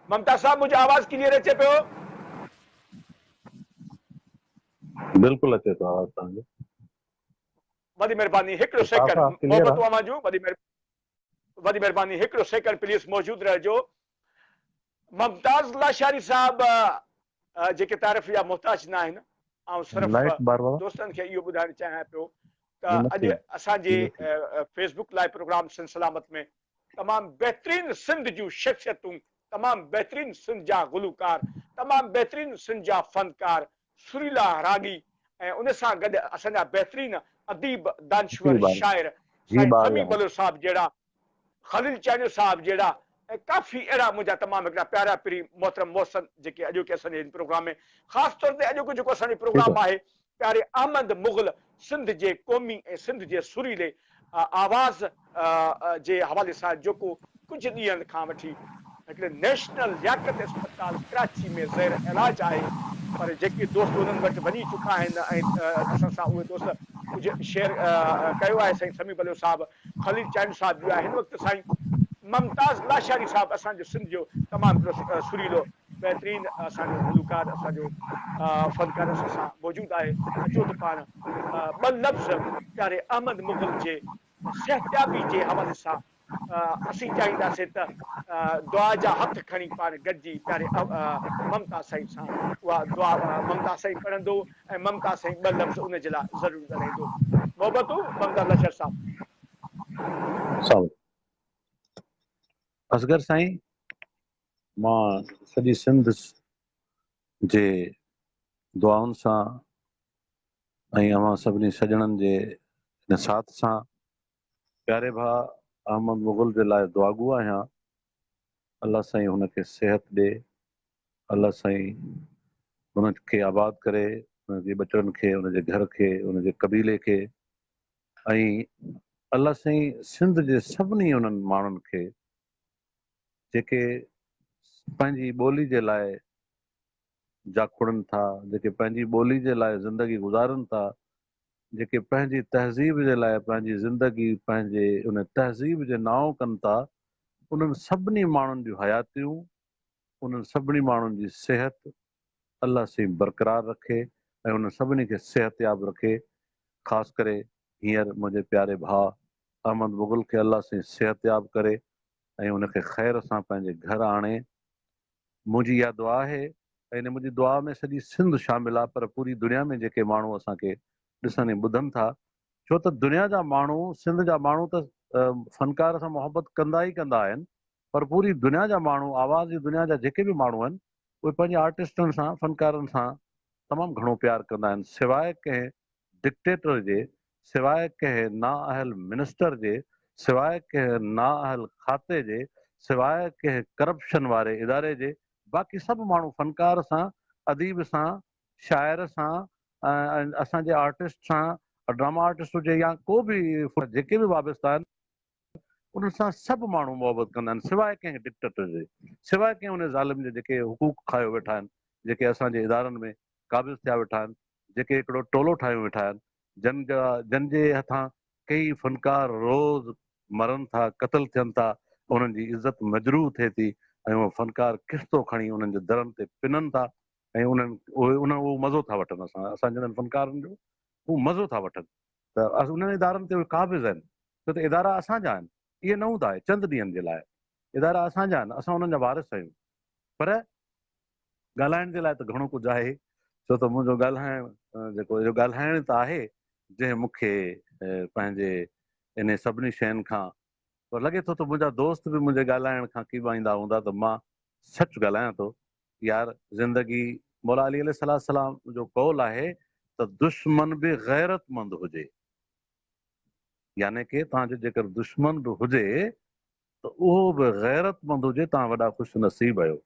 ممتا صاحب منهنجو آواز ڪليئر اچي پيو بلڪل اچي ٿو آواز تهان جو وڏي مهرباني هڪڙو سيڪنڊ محبت اوهان جون وڏي مهرباني وڏي مھرباني ھڪڙو سيڪنڊ پليز موجود رھجو ممتاز لاشاري صاحب جيڪي تعرف جا محتاج ناھن آئون صرف دوستن کي اھو ٻڌائڻ چاھيان پيو ته اڄ اسان جي Facebook live program Sindh Salamat ۾ تمام بهترين سنڌ جون شخصيتون تمام بهترين سنڌ جا گلوڪار تمام بهترين سنڌ جا فنڪار سريلا راڳي ۽ ان سان گڏ اسان جا بهترين اديب، دانشور، شاعر سائين سميع بلوچ صاحب جهڙا، خليل چانيو صاحب جهڙا ۽ ڪافي اهڙا منهنجا تمام هڪڙا پيارا پرين محترم محسن جيڪي اڄوڪي اسان جي هن پروگرام ۾ خاص طور تي اڄوڪو جيڪو اسان جو پروگرام آهي پياري احمد مغل سنڌ جي قومي ۽ سنڌ جي سريلي آواز جي حوالي سان جيڪو ڪجهه ڏينهن کان وٺي هڪڙي نيشنل لياقت اسپتال ڪراچي ۾ زير علاج آهي پر جيڪي دوست انهن وٽ وڃي چڪا آهن ۽ اسان سان اهي دوست ڪجهه شيئر ڪيو آهي سائين سميع بلوچ صاحب خليل چانڊيو صاحب جو آهي هن وقت سائين ممتاز لاشاري صاحب اسان جو سنڌ جو تمام هڪڙو سريلو بهترين اسان جو گلوڪار اسان جو فنڪار اسان سان موجود آهي اچو ته پاڻ ٻه لفظ پياري احمد مغل جي صحتيابي جي حوالي سان اسين چاهينداسين ته دعا جا هٿ کڻي پاڻ گڏجي پياري ممتاز سائين سان اها دعا ممتاز سائين پڙهندو ۽ ممتاز سائين ٻه لفظ ان جي لاء ضرور ڳالهائيندو محبتون ممتاز لشر صاحب سائين اصغر سائين مان سڄي سنڌ جي دعائن سان ۽ اوهان سڀني سڄڻن جي ان ساٿ سان پياري ڀاء احمد مغل جي لاء دعاگو آهيان الله سائين هن کي صحت ڏي الله سائين هن کي آباد ڪري هن جي ٻچڙن کي هن جي گهر کي هن جي قبيلي کي ۽ الله سائين سنڌ جي سڀني انهن ماڻهن کي جيڪي پنهنجي ٻولي جي لاء جاکوڙن ٿا، جيڪي پنهنجي ٻولي جي لاء زندگي گذارن ٿا، جيڪي پنهنجي تهذيب جي لاء پنهنجي زندگي پنهنجي ان تهذيب جي نانء ڪن ٿا، انهن سڀني ماڻهن جون حياتيون، انهن سڀني ماڻهن جي صحت الله سائين برقرار رکي ۽ انهن سڀني کي صحتياب رکي، خاص ڪري هينئر منهنجي پياري ڀاء احمد مغل کي الله سائين صحتياب ڪري ۽ ان کي خير سان پنهنجي گهر آڻي منهنجي اها دعا آهي ۽ منهنجي دعا ۾ سڄي سنڌ شامل آهي پر پوري دنيا ۾ جيڪي ماڻهو اسان کي ڏسن ۽ ٻڌن ٿا ڇو ته دنيا جا ماڻهو سنڌ جا ماڻهو ته فنڪار سان محبت ڪندا ئي ڪندا آهن پر پوري دنيا جا ماڻهو آواز جي دنيا جا جيڪي به ماڻهو آهن اهي پنهنجي آرٽسٽن سان فنڪارن سان تمام گهڻو پيار ڪندا آهن سواء ڪنهن ڊڪٽيٽر جي سواء ڪنهن نااهل منسٽر جي، سواء ڪنهن نااهل کاتي جي، سواء ڪنهن ڪرپشن واري اداري جي، باقي سڀ ماڻهو فنڪار سان، اديب سان، شاعر سان ۽ اسان جي آرٽسٽ سان، ڊراما آرٽسٽ هجي يا ڪو به جيڪي به وابستا آهن، ان سان سڀ ماڻهو محبت ڪندا آهن سواء ڪنهن ڊڪٽيٽر جي سواء ڪنهن ان ظالم جي جيڪي حقوق کايو ويٺا آهن جيڪي اسان جي ادارن ۾ قابض ٿيا ويٺا آهن جيڪي هڪڙو ٽولو ٺاهيون ويٺا آهن جن جا جن جي هٿان ڪيئي فنڪار روز مرن ٿا قتل ٿين ٿا انهن جي عزت مجروح ٿئي ٿي ۽ اهي فنڪار قسطو کڻي انهن جي درن تي پنن ٿا ۽ انهن اهي انهن اهو مزو ٿا وٺن اسان اسان جهڙن فنڪارن جو هو مزو ٿا وٺن ته انهن ادارن تي اهي قابض آهن، ڇو ته ادارا اسان جا آهن، اهي نه هوندا اهي چند ڏينهن جي لاء، ادارا اسان جا آهن، اسان انهن جا وارث آهيون، پر ڳالهائڻ جي لاء ته گهڻو ڪجهه آهي، ڇو ته منهنجو ڳالهائڻ جيڪو اهو ڳالهائڻ ته آهي، جنهن مون کي پنهنجي انهي سڀني شين کان پر لڳي ٿو ته منهنجا دوست به منهنجي ڳالهائڻ کان ڪيٻائيندا هوندا ته مان سچ ڳالهايان ٿو. يار زندگي مولا علي عليه السلام جو قول آهي ته دشمن به غيرتمند هجي يعني ڪي توهان جو جيڪر دشمن به هجي ته اهو به غيرتمند هجي توهان وڏا خوش نصيب آهيو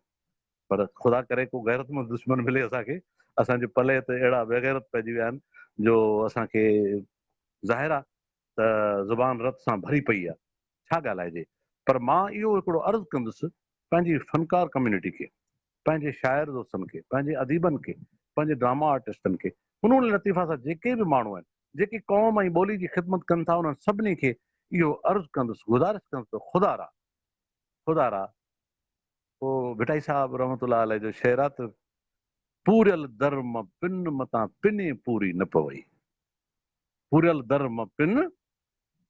پر خدا ڪري ڪو غيرتمند دشمن ملي اسان کي اسان جي پلئه ته اهڙا بيغيرت پئجي ويا آهن جو اسان کي ظاهر آهي ته زبان رت سان ڀري پئي آ، ڇا ڳالهائجي؟ پر مان اهو هڪڙو عرض ڪندس پنهنجي فنڪار ڪميونٽي کي، پنهنجي شاعر دوستن کي، پنهنجي اديبن کي، پنهنجي ڊراما آرٽسٽن کي، فنون لطيفه سان جيڪي به ماڻهو آهن، جيڪي قوم ۽ ٻولي جي خدمت ڪن ٿا انهن سڀني کي اهو عرض ڪندس، گذارش ڪندس ته خدا را، خدا را! هو ڀٽائي صاحب رحمة الله عليه جو شعر آ ته، پوريل در مان پن متان پني پوري نه پوئي. پوريل در م پن،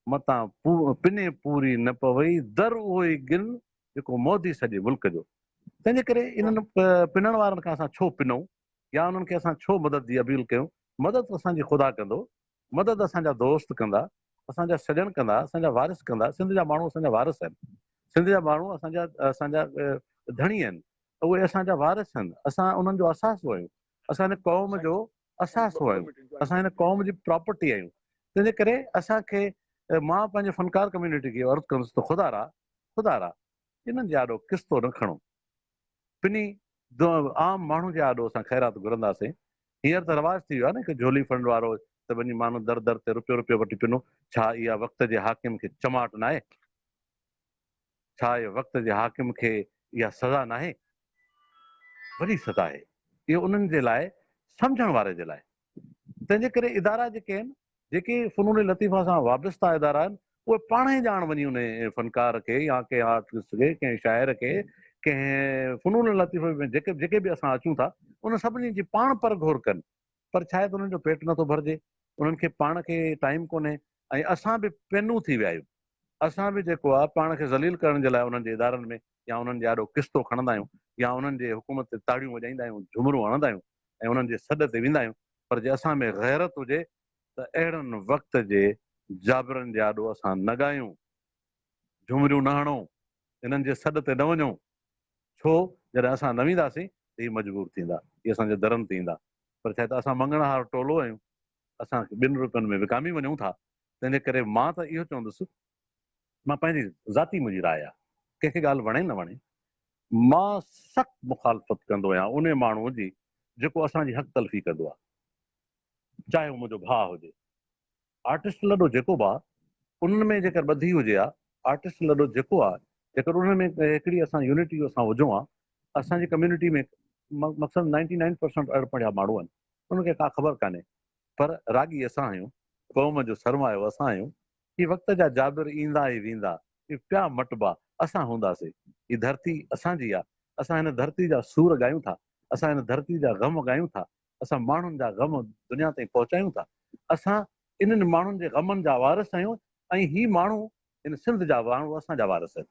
متان پني پوري نه پوي، در اهو ئي گن جيڪو مودي سڄي ملڪ جو. تنهن جي ڪري انهن پنڻ وارن کان اسان ڇو پنئون يا انهن کي اسان ڇو مدد جي اپيل ڪيون؟ مدد اسان جي خدا ڪندو، مدد اسان جا دوست ڪندا، اسان جا سڄڻ ڪندا، اسان جا وارث ڪندا، سنڌ جا ماڻهو اسان جا وارث آهن، سنڌ جا ماڻهو اسان جا اسان جا ڌڻي آهن، اهي اسان جا وارث آهن، اسان انهن جو اثاثو آهيون، اسان هن قوم جو اثاثو آهيون، اسان هن قوم جي پراپرٽي آهيون، تنهن جي ڪري اسان کي مان پنهنجي فنڪار ڪميونٽي کي عرض ڪندس ته خدا را خدا را انهن جي آڏو قسطو نه کڻو، پني عام ماڻهو جي آڏو اسان خيرات گهرنداسين، هينئر ته رواج ٿي ويو آهي نه هڪ جهولي فنڊ وارو ته وڃي ماڻهو در در تي رپيو رپيو وٺي پنو، ڇا اها وقت جي حاڪم کي چماٽ ناهي؟ ڇا اهو وقت جي حاڪم کي اها سزا ناهي؟ وڏي سزا آهي. اهو انهن جي لاء سمجهڻ واري جي لاء. تنهن جي ڪري ادارا جيڪي آهن، جيڪي فنون لطيفه سان وابسته ادارا آهن، اهي پاڻ ئي ڄاڻ وڃي انهي فنڪار کي يا ڪنهن آرٽسٽ کي، ڪنهن شاعر کي، ڪنهن فنون لطيفه ۾ جيڪي به اسان اچون ٿا، انهن سڀني جي پاڻ پرگهور ڪن. پر ڇا آهي ته انهن جو پيٽ نٿو ڀرجي. انهن کي پاڻ کي ٽائيم ڪونهي. ۽ اسان به پنون ٿي ويا آهيون. اسان به جيڪو آ پاڻ کي ذليل ڪرڻ جي لاء انهن جي ادارن ۾ يا انهن جي آڏو قسطو کڻندا آهيون يا انهن جي حڪومت تي تاڙيون وڄائيندا آهيون، جهومرون هڻندا آهيون ۽ انهن جي سڏ تي ويندا آهيون پر جي اسان ۾ غيرت هجي ته اهڙن وقت جي جابرن جي آڏو اسان نه ڳايون، جهومريون نه هڻون، انهن جي سڏ تي نه وڃون ڇو جڏهن اسان نه وينداسين ته هي مجبور ٿيندا، هي اسان جي درن تي ايندا پر ڇا ته اسان مڱڻهار ٽولو آهيون اسان ٻن روپين ۾ وڪامي وڃون ٿا، تنهن جي ڪري مان ته اهو چوندس، مان پنهنجي ذاتي منهنجي راء آهي، ڪنهن کي ڳالهه وڻي نه وڻي، مان سخت مخالفت ڪندو آهيان انهي ماڻهوء جي جيڪو اسان جي حق تلفي ڪندو آهي، چاهي هو منهنجو ڀاء هجي. آرٽسٽ لڏو جيڪو به آهي، انهن ۾ جيڪر ٻڌي هجي ها، آرٽسٽ لڏو جيڪو آهي، جيڪر انهن ۾ هڪڙي اسان يونٽي اسان هجون ها، اسان جي ڪميونٽي ۾ مڪسن نائنٽي نائن پرسنٽ اڻ پڙهيا ماڻهو آهن، ان کي ڪا خبر ڪانهي. پر راڳي اسان آهيون، قوم جو سرمايو اسان آهيون، هي وقت جا جابر ايندا ۽ ويندا، هي پيا مٽبا، اسان هونداسين، هي ڌرتي اسان جي آ، اسان هن ڌرتي جا سور ڳايون ٿا، اسان هن ڌرتي جا غم ڳايون ٿا، اسان ماڻهن جا غم دنيا تائين پهچايون ٿا، اسان انهن ماڻهن جي غمن جا وارث آهيون ۽ هي ماڻهو هن سنڌ جا ماڻهو اسان جا وارث آهن.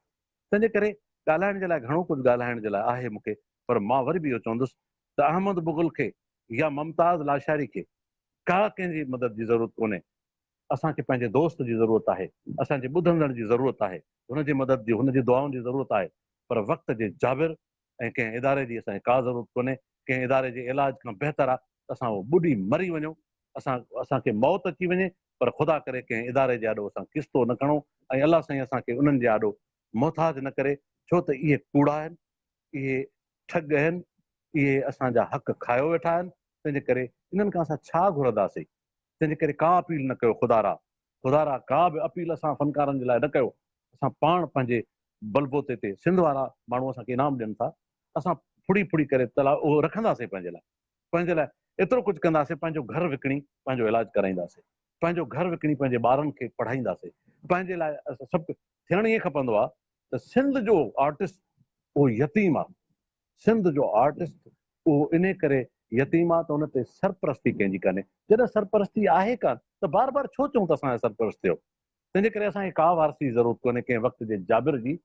تنهنجي ڪري ڳالهائڻ جي لاء گهڻو ڪجهه ڳالهائڻ جي لاء آهي مون کي پر مان وري به اهو چوندس ته احمد مغل کي يا ممتاز لاشاري کي ڪا ڪنهن جي مدد جي ضرورت ڪونهي اسان کي پنهنجي دوست جي ضرورت آهي اسان جي ٻڌندڙن جي ضرورت آهي هن جي مدد جي هن جي دعائن جي ضرورت آهي پر وقت جي جابر ۽ ڪنهن اداري جي اسان کي ڪا ضرورت ڪونهي، ڪنهن اداري جي علاج کان بهتر آ ته اسان اهو ٻڏي مري وڃون، اسان اسان کي موت اچي وڃي پر خدا ڪري ڪنهن اداري جي آڏو اسان ڪستو نه کڻون ۽ الله سائين اسان کي انهن جي آڏو محتاج نه ڪري ڇو ته اهي ڪوڙا آهن، اهي ٺڳ اهن، اهي اسان جا حق کايو ويٺا آهن، تنهنجي ڪري انهن کان اسان ڇا گهرنداسين، تنهنجي ڪري ڪا اپيل نه ڪيو خدارا، خدا را ڪا به اپيل اسان فنڪارن جي لاء نه ڪيو اسان پاڻ پنهنجي بلبوتي تي سنڌ وارا ماڻهو اسان کي انعام ڏين ٿا اسان ڦڙي ڦڙي ڪري تلا اهو رکنداسين پنهنجي لاء پنهنجي لاء ايترو ڪجهه ڪنداسين پنهنجو گهر وڪڻي پنهنجو علاج ڪرائينداسين پنهنجو گهر وڪڻي پنهنجي ٻارن کي پڙهائينداسين پنهنجي لاء سڀ ٿيڻ ائين کپندو آهي ته سنڌ جو آرٽسٽ اهو يتيم آهي سنڌ جو آرٽسٽ اهو انهي ڪري يتيم آ ته ان تي سرپرستي ڪنهن جي ڪانهي جڏهن سرپرستي آهي ڪانه ته بار بار ڇو چئون ته اسان جا سرپرست ٿيو تنهن جي ڪري اسان کي ڪا وارثي جي ضرورت ڪونهي ڪنهن وقت جي جابر جي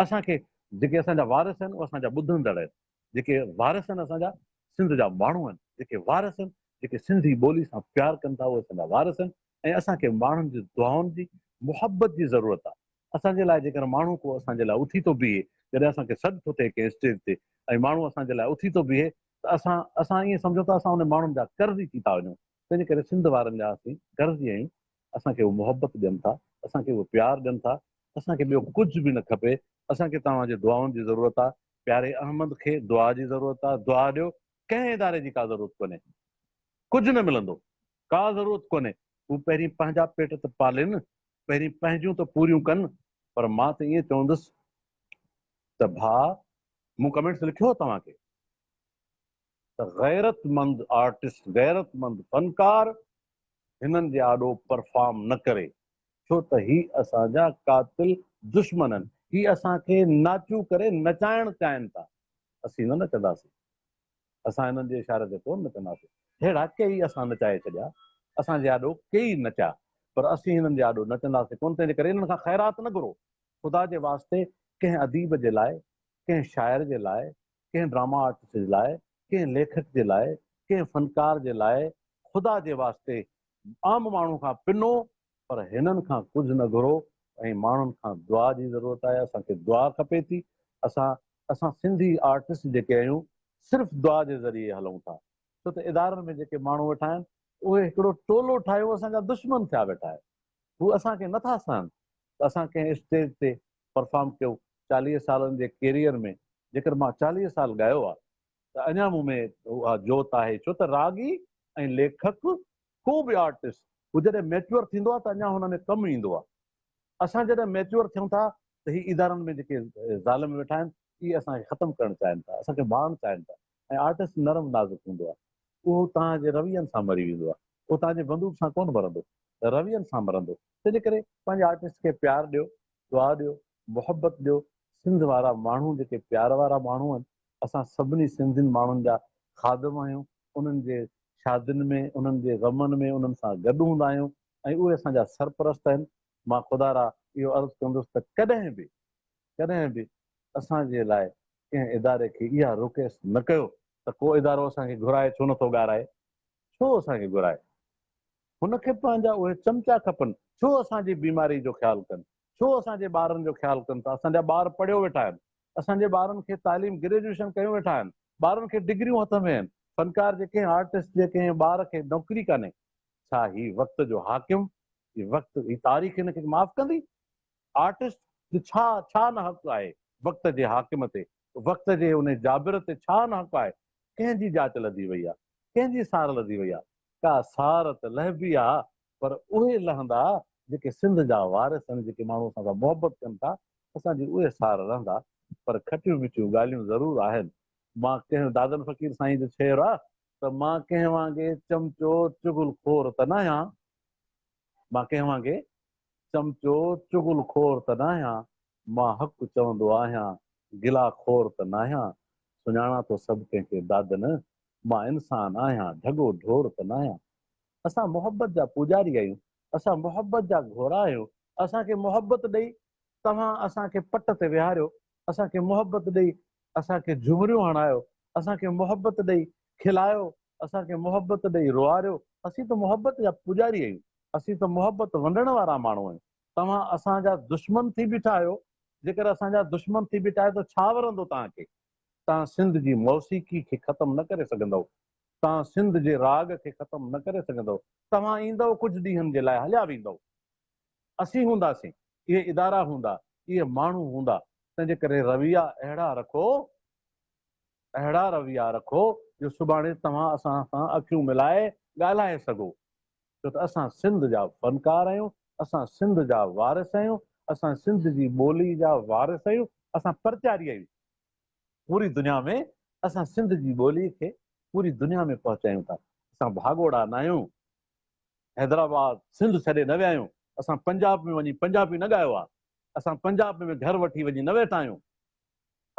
اسان کي جيڪي اسان جا وارث آهن اهي اسان جا ٻڌندڙ آهن جيڪي وارث آهن اسان جا سنڌ جا ماڻهو آهن جيڪي وارث آهن جيڪي سنڌي ٻولي سان پيار ڪن ٿا اهي اسان جا وارث آهن ۽ اسان کي ماڻهن جي دعائن جي، محبت جي ضرورت آهي. اسان جي لاء جيڪڏهن ماڻهو ڪو اسان جي لاء اٿي ٿو بيهي، جڏهن اسان کي سڏ ٿو ٿئي ڪنهن اسٽيج تي ۽ ماڻهو اسان جي لاء اٿي ٿو بيهي ته اسان اسان ائين سمجهون ته اسان انهن ماڻهن جا قرضي ٿي ٿا وڃون. تنهنجي ڪري سنڌ وارن جا اسين قرضي آهيون. اسان کي اهي محبت ڏين ٿا، اسان کي اهي پيار ڏين ٿا. اسان کي ٻيو ڪجهه به نه کپي. اسان کي توهان جي دعائن جي ضرورت آهي. پياري احمد کي دعا جي ضرورت آهي. دعا ڏيو. ڪنهن اداري جي ڪا ضرورت ڪونهي. ڪجهه نه ملندو. ڪا ضرورت ڪونهي، هو پهرين پنهنجا پيٽ ته پالين، پهرين پنهنجون ته پوريون ڪن. پر مان ته ائين چوندس ته ڀاء مون ڪمينٽس لکيو توهان کي ته غيرتمند آرٽسٽ، غيرتمند فنڪار هنن جي آڏو پرفارم نه ڪري، ڇو ته هي اسان جا قاتل دشمن آهن، هي اسان کي ناچو ڪري نچائڻ چاهين ٿا، اسين نه نچنداسين. اسان انهن جي اشاري تي ڪونه نچنداسين. ههڙا ڪيئي اسان نچائي ڇڏيا، اسان جي آڏو ڪيئي نچيا، پر اسين هنن جي آڏو نچنداسين ڪونه، تنهن جي ڪري هنن کان خيرات نه گهرو. خدا جي واسطي ڪنهن اديب جي لاء، ڪنهن شاعر جي لاء، ڪنهن ڊراما آرٽسٽ جي لاء، ڪنهن ليکڪ جي لاء، ڪنهن فنڪار جي لاء خدا جي واسطي عام ماڻهو کان پنو پر هنن کان ڪجهه نه گهرو ۽ ماڻهن کان دعا جي ضرورت آهي اسان کي دعا کپي ٿي اسان اسان سنڌي آرٽسٽ جيڪي آهيون صرف دعا جي ذريعي هلون ٿا ڇو ته ادارن ۾ جيڪي ماڻهو ويٺا آهن اهي هڪڙو ٽولو ٺاهيو اسان جا دشمن ٿيا ويٺا آهن هو اسان کي نٿا سهن ته اسان ڪنهن اسٽيج تي پرفارم ڪيو چاليهه سالن جي ڪيريئر ۾ جيڪر مان چاليهه سال ڳايو آهي ته اڃا مون ۾ اها جوت آهي ڇو ته راڳي ۽ ليکڪ ڪو به آرٽسٽ هو جڏهن ميچوئر ٿيندو آهي ته اڃا هن ۾ ڪم ايندو آهي اسان جڏهن ميچوئر ٿيون ٿا ته هي ادارن ۾ جيڪي ظالم ويٺا آهن اهي اسان کي ختم ڪرڻ چاهين ٿا اسان کي ڀاڙڻ چاهين ٿا ۽ آرٽسٽ نرم نازڪ هوندو آهي اهو توهان جي روين سان مري ويندو آهي اهو توهان جي بندوق سان ڪونه مرندو روين سان مرندو تنهنجي ڪري پنهنجي آرٽسٽ کي پيار ڏيو دعا ڏيو محبت ڏيو سنڌ وارا ماڻهو جيڪي پيار وارا ماڻهو آهن اسان سڀني سنڌين ماڻهن جا خادم آهيون انهن جي شادين ۾ انهن جي غمن ۾ انهن سان گڏ هوندا آهيون ۽ اهي اسان جا سرپرست آهن مان خدا را اهو عرض ڪندس ته ڪڏهن به ڪڏهن به اسان جي لاء ڪنهن اداري کي اها رڪيس نه ڪيو ته ڪو ادارو اسان کي گهرائي ڇو نٿو ڳارائي ڇو اسان کي گهرائي هن کي پنهنجا اهي چمچا کپن ڇو اسان جي بيماري جو خيال ڪن ڇو اسان جي ٻارن جو خيال ڪن ٿا اسان جا ٻار پڙهيو ويٺا آهن اسان جي ٻارن کي تعليم گريجوئيشن ڪيون ويٺا آهن ٻارن کي ڊگريون هٿ ۾ آهن فنڪار جي ڪنهن آرٽسٽ جي ڪنهن ٻار کي نوڪري ڪانهي ڇا هي وقت جو حاڪم هي وقت هي تاريخ هن کي معاف ڪندي آرٽسٽ جو ڇا ڇا نه حق آهي وقت جي حاڪم تي وقت جي ان جابر تي ڇا نه حق آهي ڪنهن جي جاچ لڌي وئي آهي ڪنهن جي سار لڌي وئي آهي ڪا سار ته لهبي آهي پر اهي لهندا جيڪي سنڌ جا وارث آهن جيڪي ماڻهو اسان سان محبت ڪن ٿا اسان جي اهي سار رهندا پر کٽيون مٺيون ڳالهيون ضرور آهن مان ڪنهن دادن فقير سائين جو ڇير آ ته مان ڪنهن وانگي چمچو چغل خور ته ناهيان مان ڪنهن وانگي چمچو چغل خور ته ناهيان مان حق چوندو آهيان گلا خور ته ناهيان سڃاڻان ٿو سڀ ڪنهن کي دادن مان انسان آهيان ڍڳو ڍور ته ناهيان. اسان محبت جا پوڄاري آهيون، اسان محبت جا گهوڙا آهيون، اسان کي محبت ڏئي توهان اسان کي پٽ تي ويهاريو، اسان کي محبت ڏئي اسان کي جهمريون هڻايو، اسان کي محبت ڏئي کلايو، اسان کي محبت ڏئي روئاريو، اسين ته محبت جا پوڄاري آهيون، اسين ته محبت ونڊڻ وارا ماڻهو آهيون، توهان اسان جا دشمن ٿي بيٺا آهيو، جيڪر اسان جا دشمن ٿي بيٺا آهيو ته ڇا ورندو توهان کي، توهان سنڌ جي موسيقي کي ختم نه ڪري سگهندؤ، توهان سنڌ جي راڳ کي ختم نه ڪري سگهندؤ. توهان ايندؤ ڪجهه ڏينهن جي لاء هليا ويندؤ. اسين هونداسين، اهي ادارا هوندا، اهي ماڻهو هوندا، تنهنجي ڪري رويا اهڙا رکو، اهڙا رويا رکو جو سڀاڻي توهان اسان سان اکيون ملائي ڳالهائي سگهو. ڇو ته اسان سنڌ جا فنڪار آهيون، اسان سنڌ جا وارث آهيون، اسان سنڌ جي ٻولي جا وارث آهيون، اسان پرچاري آهيون. پوري دنيا ۾ اسان سنڌ جي ٻولي کي پوري دنيا ۾ پهچايون ٿا اسان ڀاڳوڙا نه آهيون حيدرآباد سنڌ ڇڏي نه ويا آهيون اسان پنجاب ۾ وڃي پنجابي نه ڳايو آهي اسان پنجاب ۾ گهر وٺي وڃي نه ويٺا آهيون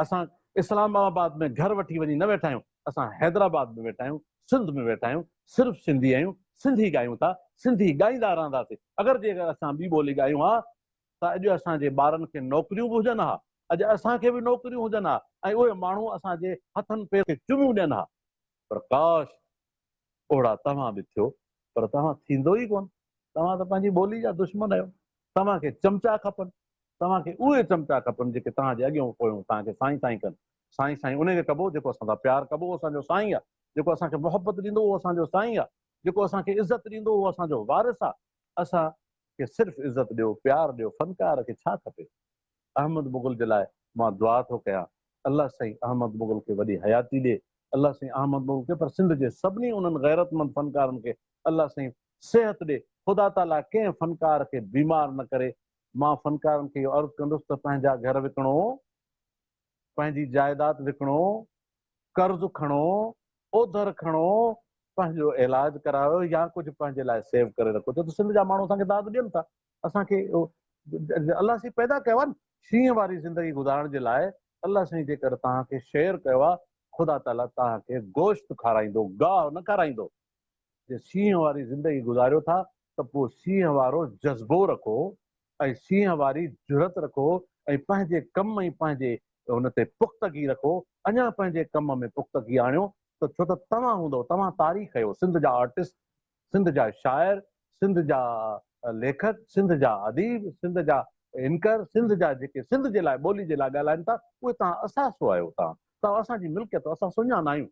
اسان اسلام آباد ۾ گهر وٺي وڃي نه ويٺا آهيون اسان حيدرآباد ۾ ويٺا آهيون سنڌ ۾ ويٺا آهيون صرف سنڌي آهيون سنڌي ڳايون ٿا سنڌي ڳائيندا رهنداسين اگر جي اگر اسان ٻي ٻولي ڳايون ها ته اڄ اسان جي ٻارن کي نوڪريون به هجن ها، اڄ اسان کي به نوڪريون هجن ها ۽ اهي ماڻهو اسان جي هٿن پيرن کي چميون ڏين ها. پر ڪاش! اوڙا توهان به ٿيو، پر توهان ٿيندو ئي ڪونه. توهان ته پنهنجي ٻولي جا دشمن آهيو. توهان کي چمچا کپن. توهان کي اهي چمچا کپن جيڪي توهان جي اڳيون پويون توهان کي سائين سائين ڪن. سائين سائين انهي کي ڪبو جيڪو اسان سان پيار ڪبو اهو اسان جو سائين آهي. جيڪو اسان کي محبت ڏيندو اهو اسان جو سائين آهي. جيڪو اسان کي عزت ڏيندو اهو اسان جو وارث آهي. اسان کي صرف عزت ڏيو پيار ڏيو فنڪار کي ڇا کپي احمد مغل جي لاء مان دعا ٿو ڪيان الله سائين احمد مغل کي وڏي حياتي ڏي الله سائين احمد مغل کي پر سنڌ جي سڀني انهن غيرتمند فنڪارن کي الله سائين صحت ڏي خدا تعالي ڪنهن فنڪار کي بيمار نه ڪري مان فنڪارن کي اهو عرض ڪندس ته پنهنجا گهر وڪڻو پنهنجي جائيداد وڪڻو، قرض کڻو، اوڌر کڻو، پنهنجو علاج ڪرايو يا ڪجهه پنهنجي لاء سيو ڪري رکو ڇو ته سنڌ جا ماڻهو اسان کي داد ڏين ٿا اسان کي الله سائين پيدا ڪيو آهي نه شينهن واري زندگي گذارڻ جي لاء الله سائين جيڪر توهان کي شير ڪيو آهي خدا تعاليٰ توهان کي گوشت کارائيندو گاهه نه کارائيندو جي سينهن واري زندگي گذاريو ٿا ته پوء سينهن وارو جذبو رکو ۽ سينهن واري جرئت رکو ۽ پنهنجي ڪم ۽ پنهنجي ان تي پختگي رکو اڃا پنهنجي ڪم ۾ پختگي آڻيو ته ڇو ته توهان هوندؤ توهان تاريخ اهيو سنڌ جا آرٽسٽ سنڌ جا شاعر سنڌ جا ليکڪ سنڌ جا اديب سنڌ جا انڪر سنڌ جا جيڪي سنڌ جي لاء ٻولي جي لاء ڳالهائين ٿا اهي توهان اثاثو آهيو توهان توهان اسان جي ملڪيت اسان سڃانا آهيون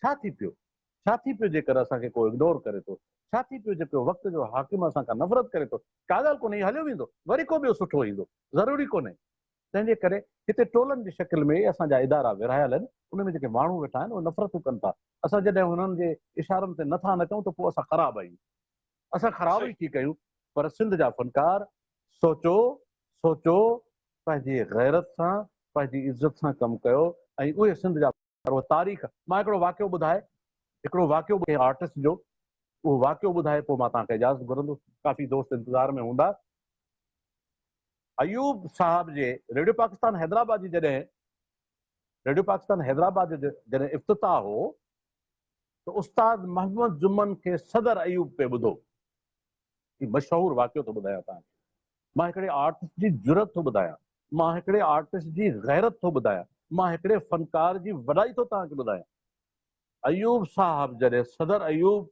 ڇا ٿي پيو؟ ڇا ٿي پيو جيڪر اسان کي ڪو اگنور ڪري ٿو؟ ڇا ٿي پيو جيڪر وقت جو حاڪم اسان کان نفرت ڪري ٿو؟ ڪا ڳالهه ڪونهي، هليو ويندو، وري ڪو ٻيو سٺو ايندو، ضروري ڪونهي. تنهن جي ڪري هتي ٽولن جي شڪل ۾ اسان جا ادارا ورهايل آهن، ان ۾ جيڪي ماڻهو ويٺا آهن، اهي نفرتون ڪن ٿا. اسان جڏهن هنن جي اشارن تي نٿا نچون ته پوء اسان خراب آهيون. اسان خراب ئي ٿي ڪيون. پر سنڌ جا فنڪار، سوچو، سوچو، پنهنجي غيرت سان، پنهنجي عزت سان ڪم ڪيو ۽ اهي سنڌ جا. پر اهو تاريخ مان هڪڙو واقعو ٻڌائي هڪڙو واقعو ڪنهن آرٽسٽ جو اهو واقعو ٻڌائي پوء مان توهان کي اجازت گهرندو ڪافي دوست انتظار ۾ هوندا ايوب صاحب جي ريڊيو پاڪستان حيدرآباد جي جڏهن ريڊيو پاڪستان حيدرآباد جو جڏهن افتتاح هو ته استاد محمد جمن کي صدر ايوب پي ٻڌو هي مشهور واقعو ٿو ٻڌايان توهان کي مان هڪڙي آرٽسٽ جي جرئت ٿو ٻڌايان، مان هڪڙي آرٽسٽ جي غيرت ٿو ٻڌايان، مان هڪڙي فنڪار جي وڏائي ٿو توهان کي ٻڌايان. ايوب صاحب جڏهن صدر ايوب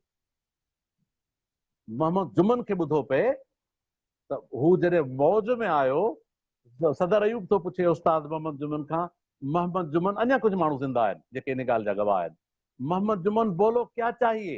محمد جمن کي ٻڌو پئي ته هو جڏهن موج ۾ آيو، صدر ايوب ٿو پڇي استاد محمد جمن کان، محمد جمن اڃا ڪجهه ماڻهو زنده آهن جيڪي ان ڳالهه جا گواهه آهن، محمد جمن بولو ڪيا چاهيي؟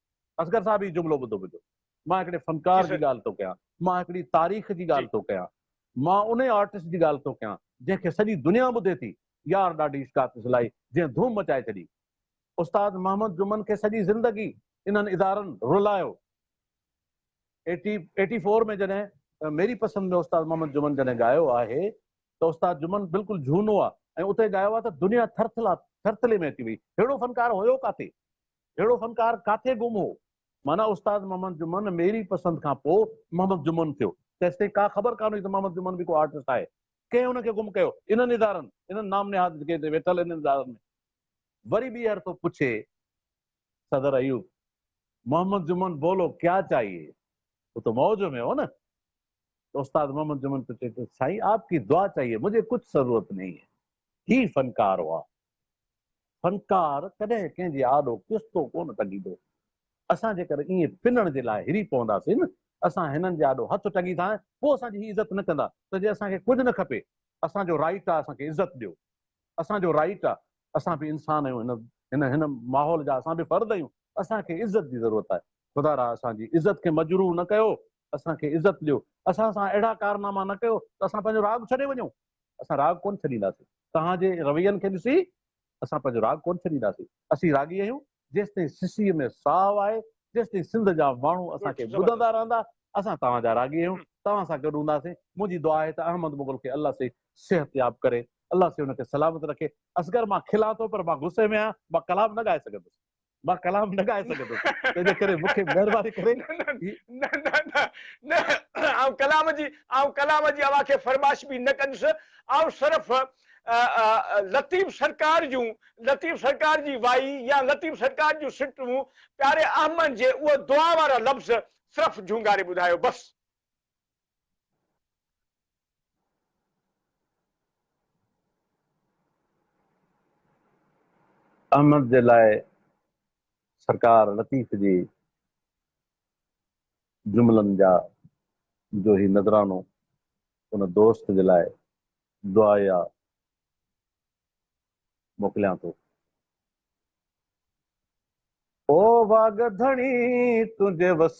اصغر صاحب هي جملو ٻڌو منهنجو مان هڪڙي فنڪار جي ڳالهه ٿو ڪيان مان هڪڙي تاريخ جي ڳالهه ٿو ڪيان مان ان آرٽسٽ جي ڳالهه ٿو ڪيان جنهن کي سڄي دنيا ٻڌي ٿي يار ڏاڍي اشڪاڪ سلائي جنهن ڌوم مچائي ڇڏي استاد محمد جمن کي سڄي زندگي انهن ادارن رلايو ايٽي ايٽي فور ۾ جڏهن ميري پسند ۾ استاد محمد جمن جڏهن ڳايو آهي ته استاد جمن بلڪل جهونو آهي ۽ اتي ڳايو آهي ته دنيا ٿرٿلا ٿرٿلي ۾ اچي وئي ههڙو فنڪار هيو ڪاٿي اهڙو فنڪار ڪاٿي گم هو؟ معنيٰ استاد محمد جمن ميري پسند کان پوء محمد جمن ٿيو، تيستائين ڪا خبر ڪانه هئي ته محمد جمن به ڪو آرٽسٽ آهي. ڪنهن ان کي گم ڪيو؟ انهن ادارن، انهن نام نهاد جيڪي هتي ويٺل انهن ادارن ۾. وري ٻيهر ٿو پڇي صدر ايوب، محمد جمن بولو ڪيا چاهيي؟ هو ته موج ۾ هو نه. ته استاد محمد جمن ٿو چئي ته سائين آپ ڪي دعا چاهيي، مجهي ڪچھ ضرورت نهين هي. هي فنڪار هئا، فنڪار ڪڏهن ڪنهن جي آڏو ڪستو ڪونه ٽنگيندو. اسان جيڪر ائين پنڻ جي لاء هري پونداسين نه اسان هنن جي آڏو هٿ ٽنگيندا ۽ پوء اسان جي هي عزت نه ڪندا ته جي اسان کي ڪجهه نه کپي اسان جو رائٽ آ اسان کي عزت ڏيو اسان جو رائٽ آ اسان به انسان آهيون هن هن ماحول جا اسان به فرد آهيون اسان کي عزت جي ضرورت آهي خدا را اسان جي عزت کي مجروح نه ڪيو اسان کي عزت ڏيو اسان سان اهڙا ڪارناما نه ڪيو ته اسان پنهنجو راڳ ڇڏي وڃون اسان راڳ ڪونه ڇڏينداسين. توهان جي روين کي ڏسي اسان پنهنجو راڳ ڪونه ڇڏينداسين. اسين راڳي آهيون، جيستائين سسئي ۾ ساهه آهي، جيستائين سنڌ جا ماڻهو اسان کي ٻڌندا رهندا، اسان توهان جا راڳي آهيون، توهان سان گڏ هونداسين. منهنجي دعا آهي ته احمد مغل کي الله سي صحتياب ڪري، الله سي ان کي سلامت رکي. اصغر مان کلان ٿو پر مان غصي ۾ آهيان، مان ڪلام نه ڳائي سگهندس. مان ڪلام نه ڳائي سگهندس تنهنجي ڪري مون کي مهرباني ڪري هي نه نه نه نه آئون ڪلام جي آئون ڪلام جي اوهان کي فرمائش به نه ڪندس آئون صرف لطيف سرڪار جون لطيف سرڪار جي وائي يا لطيف سرڪار جون سٽون پياري احمد جي اهو دعا وارا لفظ صرف جهونگاري ٻڌايو بس. احمد جي لاء سرڪار لطيف جي جملن جا جو هي نذرانو ان دوست جي لاء دعايا موڪليان ٿو. او واڳ ڌڻي تنهنجي وس